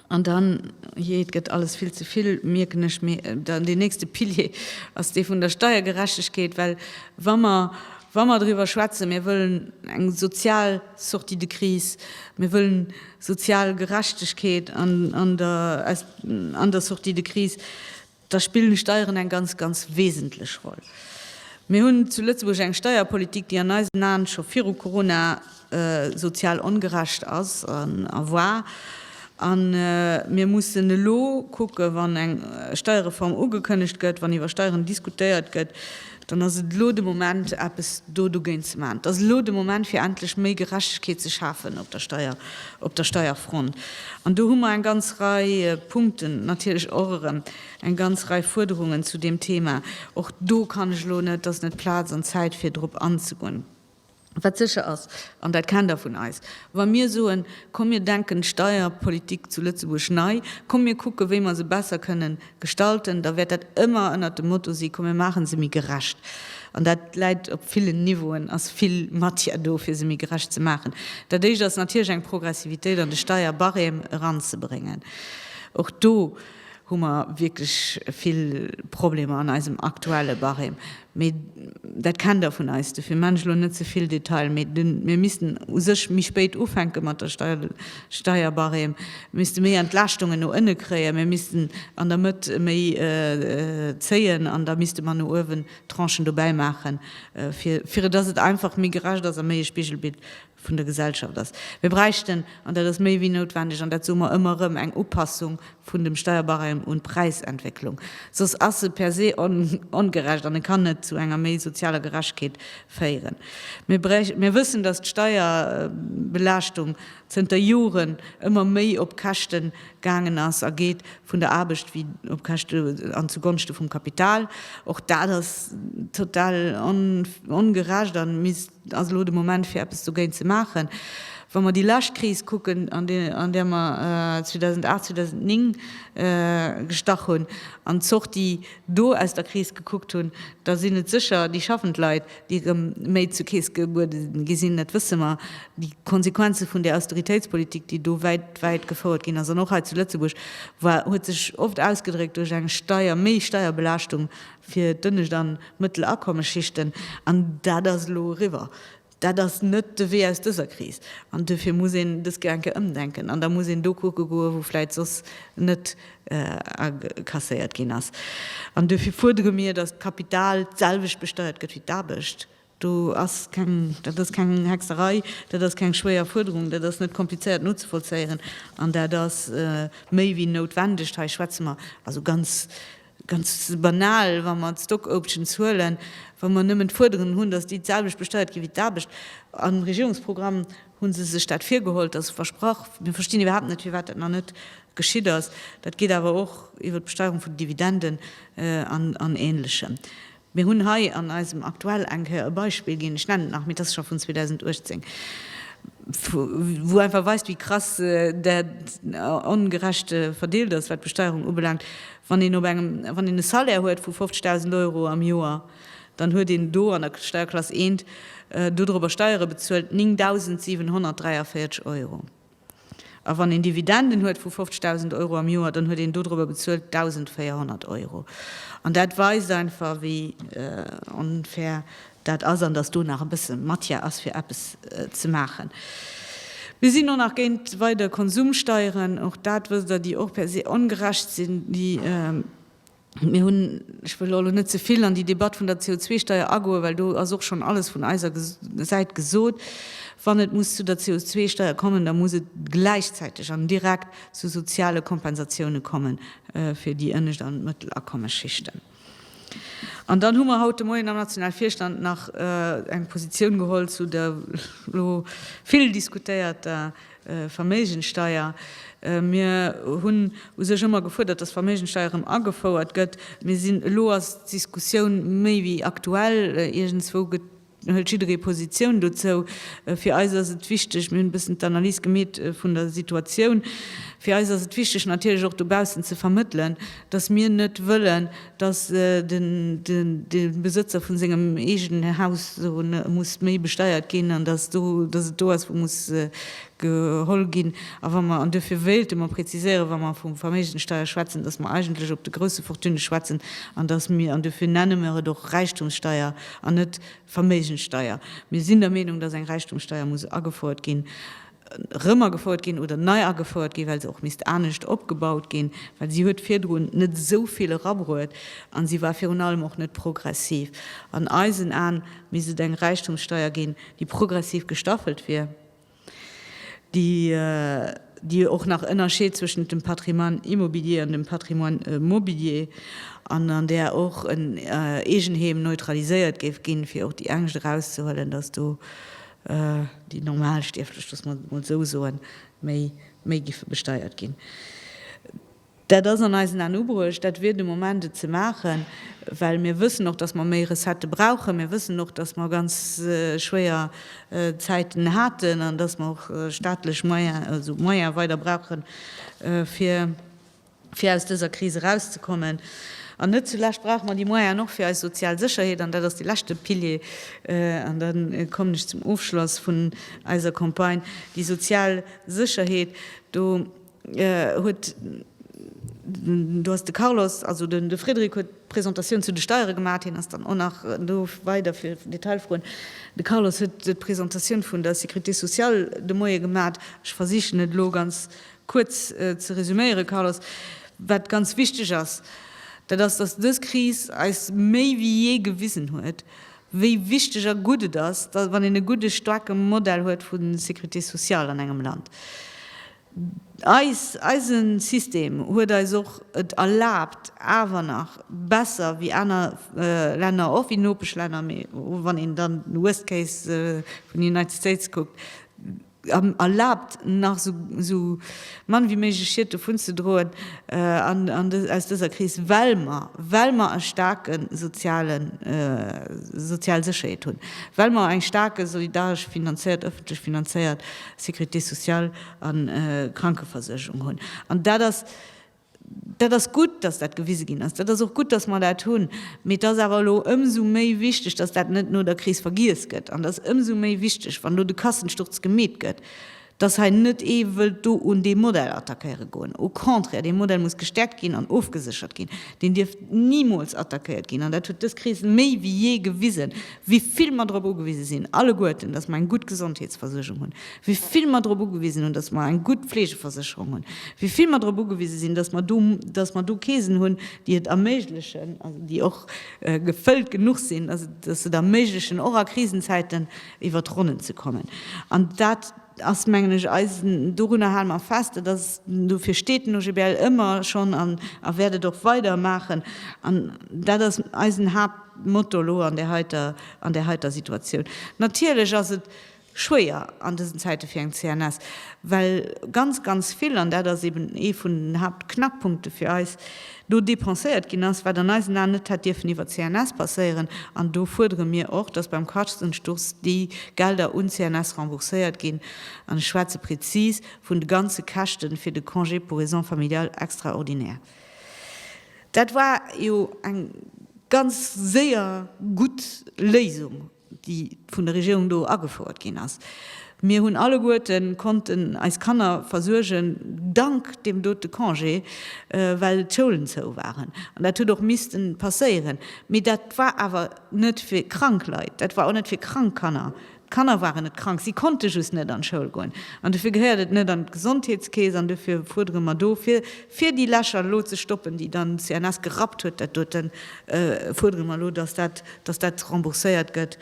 An dann, jee, et gëtt alles vill ze vill, mierken ech, mee dann deen nächste Pilier ass dee vun der Steiergerechtegkeet, well wa mer, wa mer driwwer schwätzen, mir wëllen eng sozial Sortie de crise, mir wëllen sozial Gerechtegkeet an der, an der Sortie de crise, Da spillen d'Steieren eng ganz, ganz wesentlech Roll. Mir hunn zu Lëtzebuerg eng Steierpolitik, déi an eisen Aen scho viru Corona sozial ongerecht ass a war. A mir mussen elo kucken, wann eng Steierreform ugekënnegt gëtt, wann iwwer Steieren diskutéiert gëtt, Dann ass et elo de Moment, eppes do dogéint ze maachen. Et ass elo de Moment, fir endlech méi Gerechtegkeet ze schafen op der Steier, op der Steierfront. An do hu mer eng ganz Rei Punkten, natierlech och erëm eng ganz Rei Fuerderungen zu deem Thema. Och do kann ech elo net, et ass net Plaz an d'Zäit, fir drop anzegoen. Wat sécher ass, an dat kennt Der vun eis, Wa mir soen, komm mir denken d'Steierpolitik zu Lëtzebuerg nei, komm mir kucken, wéi mer se besser kënnen gestalten, da wäert dat ëmmer ënnert dem Motto si, komm mir maache se méi gerecht. An dat läit op villen Niveauen, ass vill Matière do, fir se méi gerecht ze maachen. Dat Éischt ass natierlech eng Progressivitéit an de Steierbarème eranzebréngen. Och do. hu mer wierklech vill Problemer an eisem aktuelle Barème. Mee dat kennt Der vun eis, dofir man ech elo net ze vill Detail. Mee mir missten u sech méi spéit ufänke mat der Steierbarème, misste méi Entlaaschtungen no ënne kréien, mir missten an der Mëtt méi zéien an da misste mer no uewen Tranchen dobäimaachen, fir dass et einfach méi gerecht ass a méi e Spigelbild vun der Gesellschaft ass. Mir bräichten, an dat ass méi wéi noutwendeg, an dat soe mer ëmmer erëm, eng Upassung vun dem Steuerbarème un d'Präisentwécklung. Soss ass e per se ongerecht an e kann net zu enger méi sozialer Gerechtheet féieren. Mir wëssen, dass d'Steuerbelaaschtung zënter Joren ëmmer méi op Käschte gaangen ass a geet vun der Aarbecht wéi op Käschte an zu Gonschte vum Kapital. Och dat ass total ongerecht a misst Et ass elo de Moment fir eppes dogéint ze maachen. Wa mer déi lescht Kris kucken, an där mer 2008, 2009 gestach hunn, an d'Sortie do aus der Kris gekuckt hunn, da sinn et sécher déi schaffend Leit, déi erëm méi zur Keess gebuede gi sinn. Dat wësse mer. Déi Konsequenze vun där Austeritéitspolitik, déi do wäit, wäit gefouert ginn ass, an och hei zu Lëtzebuerg war, huet sech oft ausgedréckt duerch eng Steier, méi Steierbelaaschtung fir d'ënnescht an d'Mëttelakommesschichten, an dat ass elo eriwwer. Dat ass net de Wee aus dëser Kris, an duerfir muss een dës Gedanken ëmdenken, an da muss een do kucke goen, wou vläicht soss net akasséiert ginn ass. An duerfir fuerdere mir, datt d'Kapital d'selwecht besteiert gëtt wéi d'Aarbecht, Do ass keng, dat ass keng Hexerei, dat ass keng schwéier Fuerderung, dat ass net komplizéiert nozevollzéieren an dat ass méi wéi noutwendeg. Hei schwätze mer, also ganz, ganz banal, wa mer d'Stock-options huelen, wa mer nëmmen d'Fuerderen hunn, dass déi d'selwecht besteiert ginn wéi d'Aarbecht. Am Regierungsprogramm hu se sech dat virgeholl, dass se versprach, mir verstinn iwwerhaapt net, firwat dat nach net geschitt ass. Dat geet awer och iwwert d'Besteierung vun den Dividenden an Ähnlechem. Mir hunn hei an eisem Aktuell eng Kéier e Beispill ginn, ech nennen et nach, mee et ass scho vun 2018, wou einfach weist, wéi krass dat ongerecht verdeelt ass, wat d'Besteuerung ubelaangt. Wann een op engem, wann een e Salaire huet vu 50.000 Euro am Joer, dann huet een do an der Steierklass 1 dodrop a Steiere bezuelt 9.743 Euro. A wann een Dividenden huet vu 50.000 Euro am Joer, dann huet een dodrëber bezuelt 1.400 Euro. An dat weist einfach, wéi onfair dat ass an dass do nach e bësse Matière ass, fir eppes ze maachen. Mir sinn och nach géint weider Konsumsteieren. Och dat wësst Der, déi och per se ongerecht sinn, déi Mir hunn, ech wëll elo net ze vill an déi Debatt vun der CO2-Steuer agoen, well do ass och schonn alles vun eiser Säit gesot, wann et muss zu der CO2-Steuer kommen, da muss et gläichzäiteg an direkt zu soziale Kompensatioune komme fir déi ënnescht an d'Mëttelakommesschichten. An dann hu mer haut de Moien am Nationalvirstand nach eng Positioun geholl zu der elo vill diskutéierter Verméigensteier, Mir hunn u sech ëmmer gefuerdert, dass d'Verméigensteier erëm agefouert gëtt. Mir sinn, elo ass d'Diskussioun méi wéi aktuell, iergendswou gëtt, hëlt jidderee Positioun dozou. Fir eis ass et wichteg, mir hunn e bëssen d'Analys gemeet vun der Situatioun, fir eis ass et wichteg natierlech och dobaussen ze vermëttelen, dass mir net wëllen, dass de Besëtzer vu sengem eegene Haus muss méi besteiert ginn an dass et do ass, wou muss geholl ginn. A wa mer, an duerfir wéilte mer präziséieren, wa mer vu Verméigenssteuer schwätzen, dass mer eigentlech op de grouse Fortunë schwätzen an dass mir, an duerfir nenne mer et och Räichtumssteuer an net Verméigenssteuer, mir sinn der Meenung, dass eng Räichtumssteuer muss agefouert ginn, rëm agefouert ginn oder nei agefouert ginn, well se och misst anescht opgebaut ginn, well si huet virdrun net esou vill erabruet a si war virun allem och net progressiv. An eisen Aen misst et eng Räichtumssteuer ginn, déi progressiv gestaffelt wier, déi déi och nach ënnerscheet zwëschent dem Patrimoine immobilier an dem Patrimoine mobilier an an där och en Eegenheem neutraliséiert géif ginn, fir och déi Angscht erauszehuelen, datt do déi Normalstierflech, loosse mer et emol esou soen, méi giffe besteiert ginn. Dat ass an eisen Aen ubruecht, dat wier de Moment et ze maachen, well mir wëssen och, datt mer méi Recettë brauchen. Mir wëssen och, datt mer ganz schwéier Zäiten haten an datt mer och staatlech Moyene, also Moyene weider brauchen, fir, fir aus dëser Kris erauszekommen. An net zulescht brauche mer déi Moyenen och fir eis sozial Sécherheet, an dat ass dee leschte Pilier, an da kommen ech zum Ofschloss vun eiser Campagne, déi sozial Sécherheet. Do huet, do ass de Carlos, also de Frédéric huet d'Presentatioun zu de Steiere gemacht, hien ass dann och nach do weider fir Detailfroen, de Carlos huet d'Presentatioun vun der Sécurité sociale de Moie gemacht. Ech versichen et elo ganz Kuerz ze resuméieren, Carlos, wat ganz wichteg ass, dat ass, dass dës Kris eis méi wéi jee gewisen huet, wéi wichteg a gutt et ass, wann een e gudde staarke Modell huet vu Sécurité sociale an engem Land. Eis, eise System huet eis och et erlaabt, awer nach besser wéi aner Länner, och wéi Nopeschlänner, mee wann een dann de Worst Case vun den United States kuckt, erlaabt nach esou mann wéi méiglech Schied dovunzedroen aus dëser Kris, well mer, well mer e staarke soziale, sozial Sécherheet hunn, well mer eng staarke solidaresch finanzéiert, ëffentlech finanzéiert Sécurité sociale a Krankeversuergung hunn. An dat ass Dat ass gutt, dass dat gewise ginn ass. Dat ass och gutt, dass mer dat hunn. Mee et ass awer elo ëmsou méi wichteg, dass dat net no der Kris vergiess gëtt. An et ass ëmsou méi wichteg, wann elo de Kassensturz gemeet gëtt, dass hei net ee wëllt do un dee Modell attackéiere goen. Au contraire, dee Modell muss gestäerkt ginn an ofgeséchert ginn. Deen dierf nimools attackéiert ginn. An dat huet dës Kris méi wéi jee gewisen, wéi vill mer drop ugewise sinn alleguerten, dass mer eng gutt Gesondheetsversuergung hunn. wéi vill mer drop ugewisen hunn, datt mer eng gutt Fleegeversécherung hunn, wéi vill mer drop ugewise sinn, datt mer do, datt mer do Keesen hunn, déi et erméiglechen, also déi och gefëllt genuch sinn, datt et, datt se et erméiglechen, och a Krisenzäiten iwwert d'Ronnen ze kommen. An dat ass, mengen ech, eis, dorunner hale mer fest, dat ass, dofir steet den OGBL ëmmer schonn an a wäert et och weider maachen, an dat ass eisen Haaptmotto elo an där heiter, an där heiter Situatioun. Natierlech ass et schwéier an dësen Zäite fir eng CNS, well ganz, ganz vill, an dat ass eben ee vun den Haaptknackpunkte fir eis, do depenséiert ginn ass, wat an eisen Aen net hätt dierfen iwwer d'CNS passéieren. An do fuerdere mir och, dass beim Kachtensturz déi Gelder un d'CNS rembourséiert ginn, an ech schwätze prezis vun de ganze Käschte fir de Congé pour raisons familiales extraordinaires. Dat war jo eng ganz séier gutt Léisung. déi vun der Regierung do agefouert ginn ass. Mir hunn alleguerte konnten eis Kanner versuergen dank deem dote Congé, well d'Schoulen zou waren. An dat huet och misste passéieren. Mee dat war awer net fir krank Leit, dat war och net fir krank Kanner. D'Kanner waren net krank, si konnte just net an d'Schoul goen. An dofir gehéiert et net an d'Gesondheetskeess. An dofir fuerdere mer do fir Fir déi Lächer elo ze stoppen, déi dann d'CNS gerappt huet, dat doten, fuerdere mer elo, dass dat, dass dat rembourséiert gëtt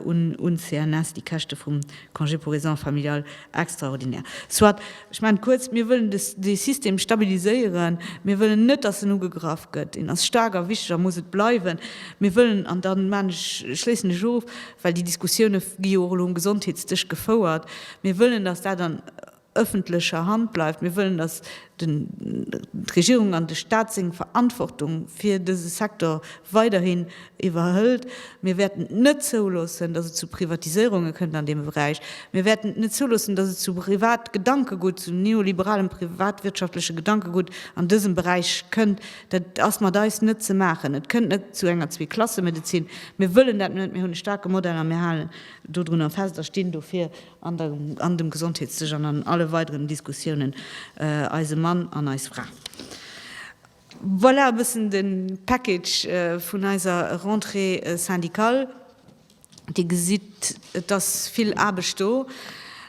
un d'CNS, déi Käschte vum Congé pour raisons familiales extraordinaires. Soit, ech maachen kuerz, mir wëllen dee System stabiliséieren. Mir wëllen net, dass en ugegraff gëtt. En ass staark a wichteg a muss et bleiwen. Mir wëllen, an da maachen ech, schléissen ech of, well déi Diskussioune gi jo och elo um Gesondheetsdësch gefouert, mir wëllen, dass dat an, ëffentlecher Hand bleift. Mir wëllen, dass d'Regierung an de Stat seng Verantwortung fir dëse Secteur weiderhin iwwerhëlt. Mir wäerten et net zouloossen, dass et zu Privatiséierunge kënnt an deem Beräich. Mir wäerten et net zouloossen, dass et zu Privatgedankegutt, zu neoliberalem privatwirtschaftleche Gedankegutt an dësem Beräich kënnt. Dat ass mat eis net ze maachen. Et kënnt net zu enger Zweeklassemedezin. Mir wëllen dat net. Mir hunn e staarke Modell a mir halen dodrunner fest a stinn dofir, an dem Gesondheetssëch an an alle weideren Diskussiounen eise Mann an eis Fra. Voilà e bëssen de Package vun eiser Rentrée syndicale. Dir gesitt, et ass vill Aarbecht do.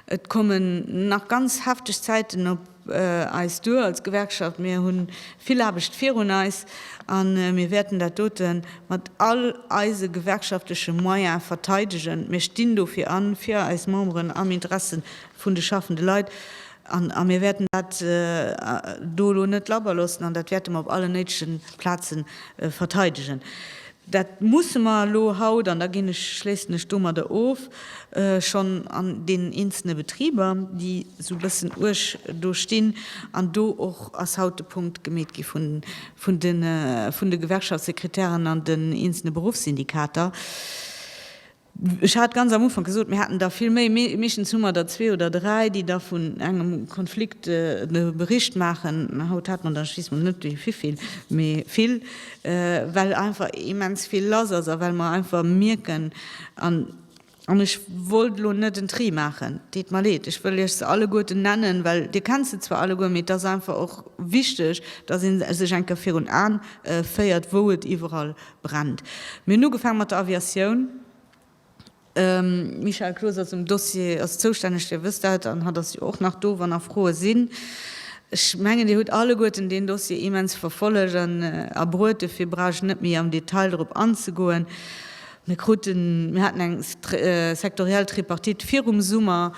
Et kommen nach ganz hefteg Zäiten op. eis duer als Gewerkschaft. Mir hu vill Aarbecht virun eis a mir wäerten dat dote mat all eise gewerkschaftleche Moyen verteidegen. Mir stinn dofir a fir eis Memberen am Interesse vun de schaffende Leit a mir wäerten dat do elo net labber loossen an dat wäerte mer op allen néidegen Plaze verteidegen. Dat musse mer elo haut, an da ginn ech, schléissen ech domadder of, schonn an deenen eenzele Betriber, déi esou e bëssen uerg do stinn, an do och ass haut de Punkt gemeet gi vun de Gewerkschaftssekretären an den eenzele Beruffssyndikater, Ech hat ganz am Ufank gesot, mir haten der vill méi, mee meeschtens hu mer der zwee oder dräi, déi da vun engem Konflikt e Bericht maachen. Haut hat mer der just mol net déi vivill, mee vill, well einfach immens vill lass ass a well mer einfach mierken, an ech wollt elo net en Tri maachen, deet mer leed, ech wëll Iech se alleguerten nennen, well Dir kennt se zwar alleguer, mee et ass einfach och wichteg, datt ee sech eng Kéier virun Aen féiert, wou et iwwerall Brand. Mir hunn ugefaang mat der Aviatioun. Michel Cloos ass um Dossier, ass zoustänneg, Dir wësst dat, an hatt ass jo och nach do, wann nach Froe sinn. Ech mengen, Dir hutt alleguerten deen Dossier immens verfollegt an erbruet, dofir brauch ech net méi am Detail drop anzegoen. Mir kruten, mir haten eng sektoriell Tripartite virum Summer.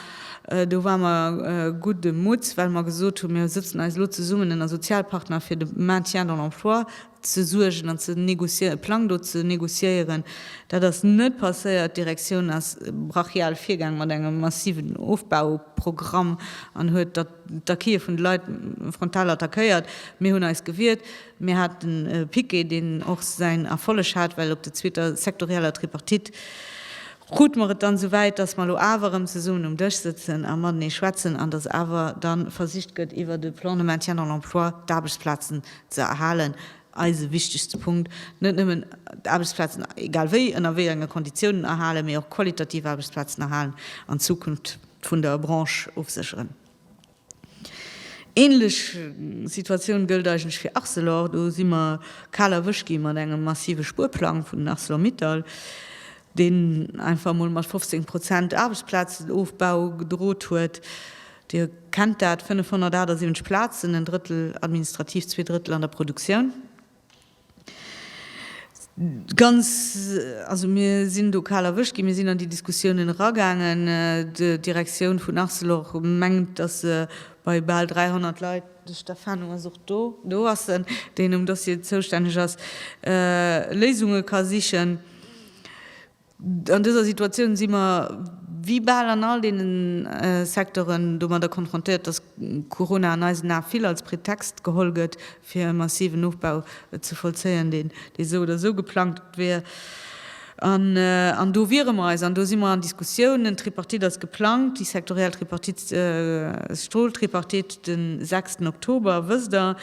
Do ware mer gudde Mutts, well mer gesot hunn, mir sëtzen eis elo zesummen ënner Sozialpartner fir de Maintien dans l'emploi, ze suergen an ze négociéieren, e Plang do ze négociéieren. Dat ass net passéiert. D'Direktioun ass brachial virgaang mat engem massiven Ofbauprogramm an huet d'Acquise vun de Leit frontal attackéiert. Mir hunn eis gewiert. Mir haten e Piquet, deen och säin Erfolleg hat, well op der zweeter sektorieller Tripartite krute mer et dann esou wäit, dass mer elo awer erëm zesummen um Dësch sëtzen a matenee schwätzen an dass awer da versicht gëtt, iwwert e Plan de maintien dans l'emploi d'Aarbechtsplazen ze erhalen, eise wichtegste Punkt, net nëmmen d'Aarbechtsplazen, egal wéi, ënner wéi enge Konditiounen, erhalen, mee och qualitativ Aarbechtsplazen erhalen an d'Zukunft vun der Branche ofsécheren. Ähnlech Situatioun gëllt eigentlech fir Arcelor. Do si mer kal erwëscht gi mat engem massive Spuerplang vun Arcelor-Mittal, deen einfach emol mat 15 Prozent Aarbechtsplazenofbau gedrot huet. Dir kennt dat, 578 Plazen, en Drëttel administrativ, zwee Drëttel an der Produktioun. Ganz, also mir sinn do kal erwëscht ginn. Mir sinn an déi Diskussiounen eragaangen. D'Direktioun vun Arcelor mengt, datt se bei bal 300 Leit, de Stefano ass och do, do ass en, deen um Dossier zoustänneg ass, Léisunge ka sichen. An dëser Situatioun si mer, wéi bal an all deene Secteuren, domadder konfrontéiert, dass Corona an eisen Ae vill als Pretext geholl gëtt, fir e massiven Ofbau ze vollzéien, deen esou oder esou geplangt wier. An do wiere mer eis, an do si mer an Diskussiounen. D'Tripartite ass geplangt, déi sektoriell Tripartite, Stoltripartite, de sechsten Oktober, wësst Der.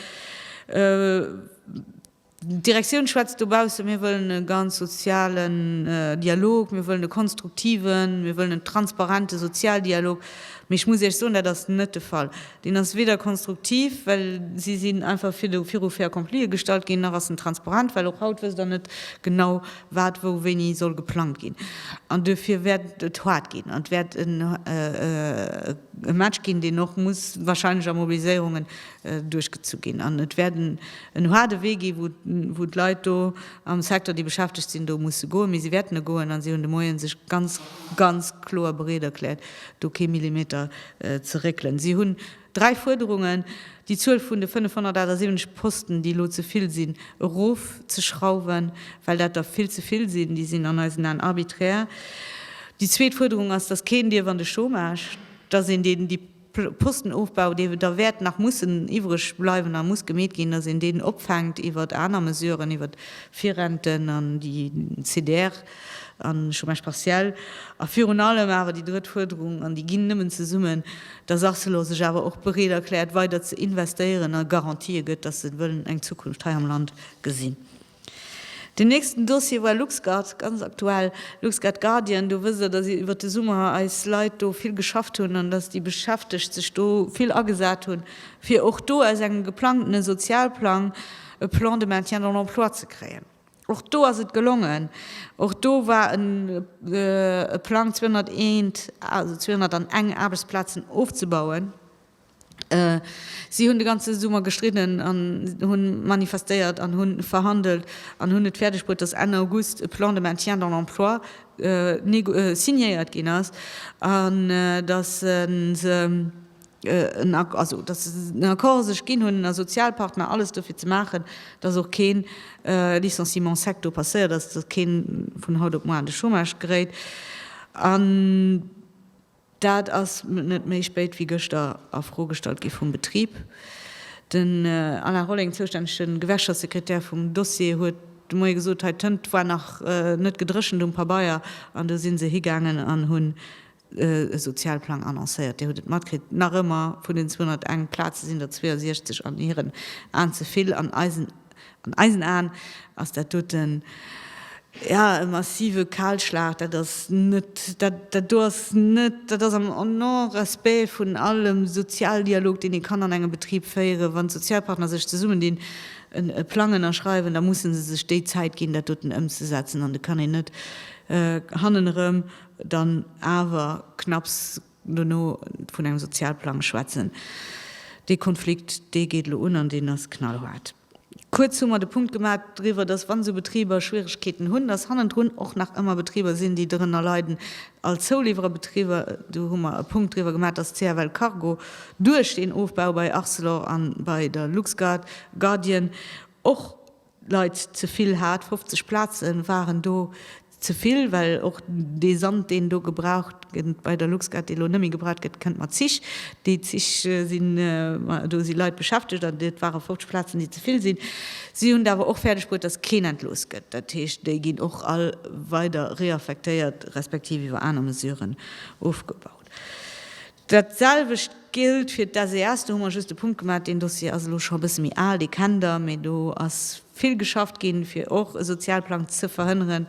D'Direktioun schwätzt dobaussen, Mir wëllen e ganz sozialen Dialog, mir wëllen e konstruktiven, mir wëllen en transparente Sozialdialog. Mee ech muss Iech soen, dat ass net de Fall. Deen ass weder konstruktiv, well si sinn einfach viru fait accomplie gestallt ginn, nach ass en transparent, well och haut wësst Der net genau, wat wou wéini soll geplangt ginn. An duerfir wäert et haart ginn an et wäert e Match ginn, deen och muss wahrscheinlech a Mobiliséierungen duerchgezu ginn an et wäert en haarde Wee gi wou d'Leit do am Secteur, déi beschäftegt sinn do, musse goen, mee si wäerten e goen an si hunn de Moien sech ganz, ganz kloer bereet erkläert do kee Millimeter ze réckelen. Si hunn dräi Fuerderungen, déi Zuel vun de 578 Posten, déi elo ze vill sinn, erof ze schrauwen, well dat der vill ze vill sinn, déi sinn an eisen Aen arbiträr. Déi zweet Fuerderung ass, datt keen dierf an de Chômage, datt een deen déi. Postenofbau, dee da wäert nach mussen iwwreg bleiwen a muss gemeet ginn, datt een deen opfänkt iwwert aner Mesuren, iwwert Virrenten an déi CDR an Chômage partiel. A virun allem awer déi drëtt Fuerderung, an déi ginn nëmmen zesummen, datt Arcelor sech awer och bereet erkläert, weider ze investéieren a Garantië gëtt, datt se wëllen eng Zukunft hei am Land gesinn. Den nächsten Dossier war LuxGuard, ganz aktuell. LuxGuard Guardian, do wësst Der, dass iwwert de Summer eis Leit do vill geschafft hunn an dass déi Beschäftegt sech do vill agesat hunn, fir och do aus engem geplangtene Sozialplang e Plan de maintien dans l'emploi ze kréien. Och do ass et gelongen. Och do war e Plang, 201, also 201 Aarbechtsplazen ofzebauen. Si hunn de ganze Summer gestridden an hunn manifestéiert an hunn verhandelt an hunn et fäerdeg bruet, dass Enn August e Plan de maintien dans l'emploi signéiert ginn ass an dass se en Accord sech ginn hunn a Sozialpartner alles dofir ze maachen, dass och kee Licenciement en sec do passéiert ass, dass kee vun haut op muer an de Chômage geréit. Dat ass net méi spéit wéi gëschter a Fro gestallt gi vum Betrib. Den Alain Rolling, zoustännege Gewerkschaftssekretär vum Dossier, huet de Moie gesot, hei d'Tënt war nach net gedréchent um Pabeier an du si se higaangen an hunn e Sozialplang annoncéiert. Dir hutt et matkritt, nach ëmmer vun den 201 Plaze sinn der 62 an hiren Aen ze vill an eisen. An eisen Aen ass dat doten, jo, e massive Kahlschlag. Dat ass net, dat do ass net, dat ass am Non-respect vun allem Sozialdialog, deen ee kann an engem Betrib féieren. Wann d'Sozialpartner sech zesummendinn, e Plang ënnerschreiwen, da musse se sech déi Zäit ginn, dat doten ëmzesetzen. An et kann een net hannen erëm dann awer knapps, Dono vun engem Sozialplang schwätzen, dee Konflikt, dee geet elo un an deen ass knallhaart. Kuerz hu mer de Punkt gemaach driwwer, dass, wa sou Betriber Schwierigkeeten hunn, dass hannendrun och nach ëmmer Betriber sinn, déi dorënner leiden, all Zouliwwererbetriber. Do hu mer e Punkt driwwer gemaach, dass CFL Cargo duerch deen Ofbau bei Arcelor an bei der LuxGuard, Guardian, och Leit ze vill hat. 50 Plaze waren do ze vill, well och dee Sand, deen do gebraucht gëtt bei der LuxGuard, dee lo net méi gebraucht gëtt, kënnt mat Zich. Déi Zich sinn, do si Leit beschäftegt an et ware 50 Plazen, déi ze vill sinn. Si hunn et awer och fäerdeg bruet, datt keen entlooss gëtt. Dat heescht, déi ginn och all weider reaffektéiert, respektiv iwwer aner Mesuren ofgebaut. Dat selwecht géllt fir d'SES. Do hu mer just e Punkt gemaach. Deen Dossier ass elo scho e bësse méi al, dee kennt Der. Mee do ass vill geschafft ginn, fir och e Sozialplang ze verhënneren.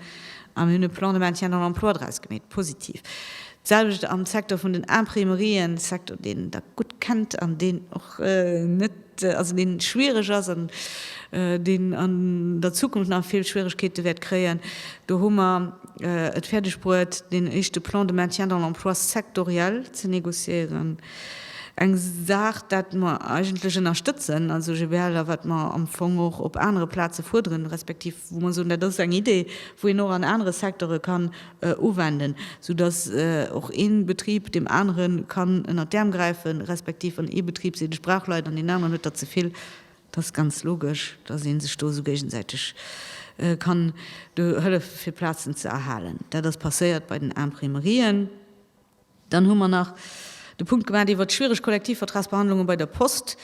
A mir hunn e Plan de maintien dans l'emploi draus gemeet, positiv. D'selwecht am Secteur vun den Imprimerien, Secteur, deen Der gutt kennt an deen och net, also deen schwiereg ass an deen an der Zukunft nach vill Schwieregkeete wäert kréien, do hu mer et fäerdeg bruet, deen éischte Plan de maintien dans l'emploi sectoriel ze négociéieren, eng Saach, dat mer eigentlech ënnerstëtzen als OGBL a wat mer am Fong och op anere Plaze fuerderen, respektiv wou mer soen, dat ass eng Idee, wou een och an anere Secteure kann uwenden, sou dass och ee Betrib deem anere kann ënnert d'Äerm gräifen, respektiv wann ee Betrib seet, ech brauch Leit an deen aneren huet der ze vill. Et ass ganz logesch, dass ee sech do esou géigesäiteg kann do hëllefe fir Plazen ze erhalen. Dat ass passéiert bei den Imprimerien. Dann hu mer nach de Punkt gemaach iwwert d'schwiereg Kollektivvertragsbehandlunge bei der Post.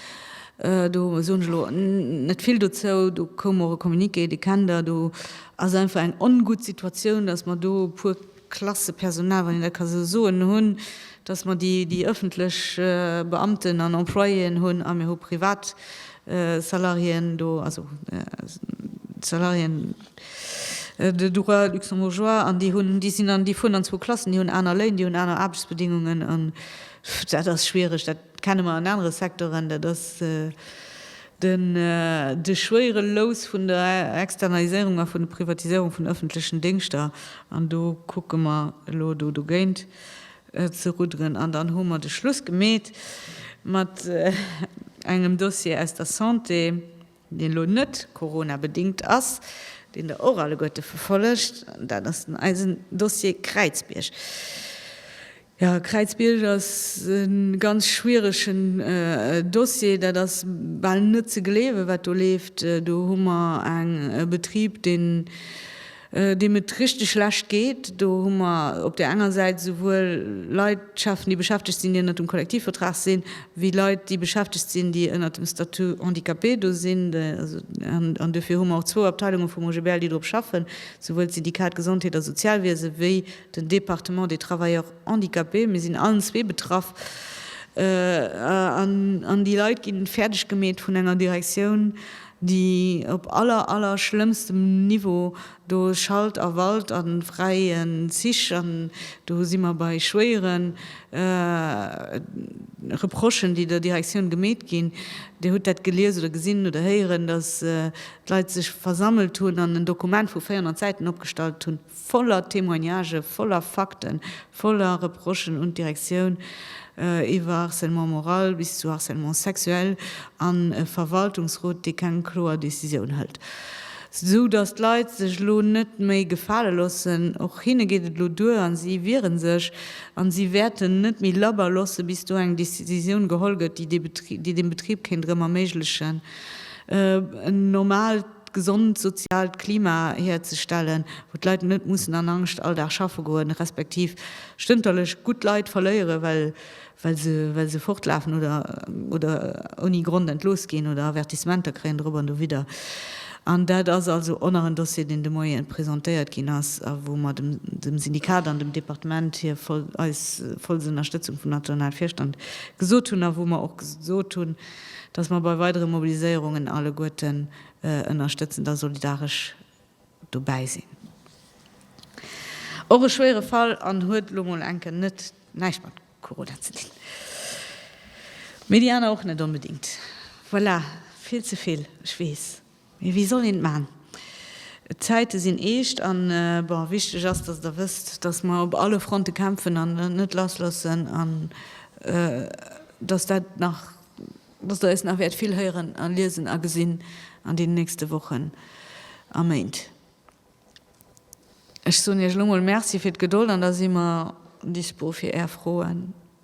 Do soen ech elo net vill dozou. Do koum och e Communiqué, dee kennt Der. Do ass einfach eng ongutt Situatioun, dass mer do e puer Klasse Personal, wann een dat ka esou soen, hunn, dass mer déi öffentlech Beamten an Employéen hunn a mir hu Privatsalariéen do, also Salariéen, de droit luxembourgeois, an déi hunn, déi sinn an, déi fueren an zwou Klassen, déi hunn aner Léin, déi hunn aner Aarbechtsbedingungen, an dat ass schwiereg, dat kenne mer an anere Secteuren, dat ass den, de schwéiere Lous vun der Externaliséierung a vun der Privatiséierung vun öffentlechen Déngschter, an do kucke mer elo do dogéint ze rudderen. An dann hu mer de Schluss gemeet mat engem Dossier aus der Santé, deen elo net Corona-bedingt ass, deen Der och alleguerte verfollegt, dat ass den eisen Dossier Kräizbierg. Jo, Kräizbierg ass e ganz schwieregen Dossier. Dat ass bal net ze gleewen, wat do leeft. Do hu mer e Betrib, deen deem et richteg schlecht geet. Do hu mer op där enger Säit esouwuel Leit schaffen, déi beschäftegt sinn, déi ënnert dem Kollektivvertrag sinn, wéi Leit, déi beschäftegt sinn, déi ënnert dem Statut handicapé do sinn. An duerfir hu mer och zwou Abteilunge vum OGBL, déi drop schaffen, esouwuel d'Syndikat Gesondheet a Sozialwiese wéi den Département des travailleurs handicapés. Mir sinn allen zwee betraff an déi Leit ginn fäerdeg gemeet vun enger Direktioun, déi op aller aller schlëmmstem Niveau do Schalt a Walt a fräien Zich, an do si mer bei schwéieren Reprochen, déi der Direktioun gemeet ginn. Dir hutt dat gelies oder gesinn oder héieren, datt d'Leit sech versammelt hunn an en Dokument vu 400 Säiten opgestallt hunn. voller Témoignagen, voller Fakten, voller Reprochen un d'Direktioun, iwwer Harcèlement moral bis zu Harcèlement sexuel, an e Verwaltungsrot, dee keng kloer Décisioun hëlt, sou datt d'Leit sech elo net méi gefale loossen. Och hinne geet et elo duer a si wiere sech a si wäerten net méi labber loosse bis do eng Décisioun geholl gëtt, déi dee Betrib, déi deem Betrib kéint erëm erméiglechen, en normaalt. d'gesond soziaalt Klima hierzestellen, wou d'Leit net mussen an Angscht all Dag schaffe goen, respektiv stënterlech gutt Leit verléieren, well se fortlafen oder ouni Grond entlooss ginn oder Avertissementer kréien dorop an dowidder. An dat ass also och nach en Dossier, deen de Moien presentéiert ginn ass a wou mer dem Syndikat an dem Departement hir eis vollst Ënnerstëtzung vum nationale Virstand gesot hunn a wou mer och gesot hunn, Dass mer bei weidere Mobiliséierungen alleguerten ënnerstëtzend a solidaresch dobäi sinn. Och e schwéiere Fall an huet elo mol enke net näischt mat Corona ze dinn. Mee déi aner och net onbedéngt. Voilà, vill ze vill, ech weess. Mee wéi soll een et maachen? D'Zäite sinn eescht an, bon, wichteg ass, dass Der wësst, dass mer op alle Fronte kämpfen an et net lassloossen an dass dat nach, dass Der eis nach wäert vill héieren a liesen a gesinn an deenen nächste Wochen a Méint. Ech soen Iech elo mol Merci fir d'Gedold an da si mer dispo fir Är Froen.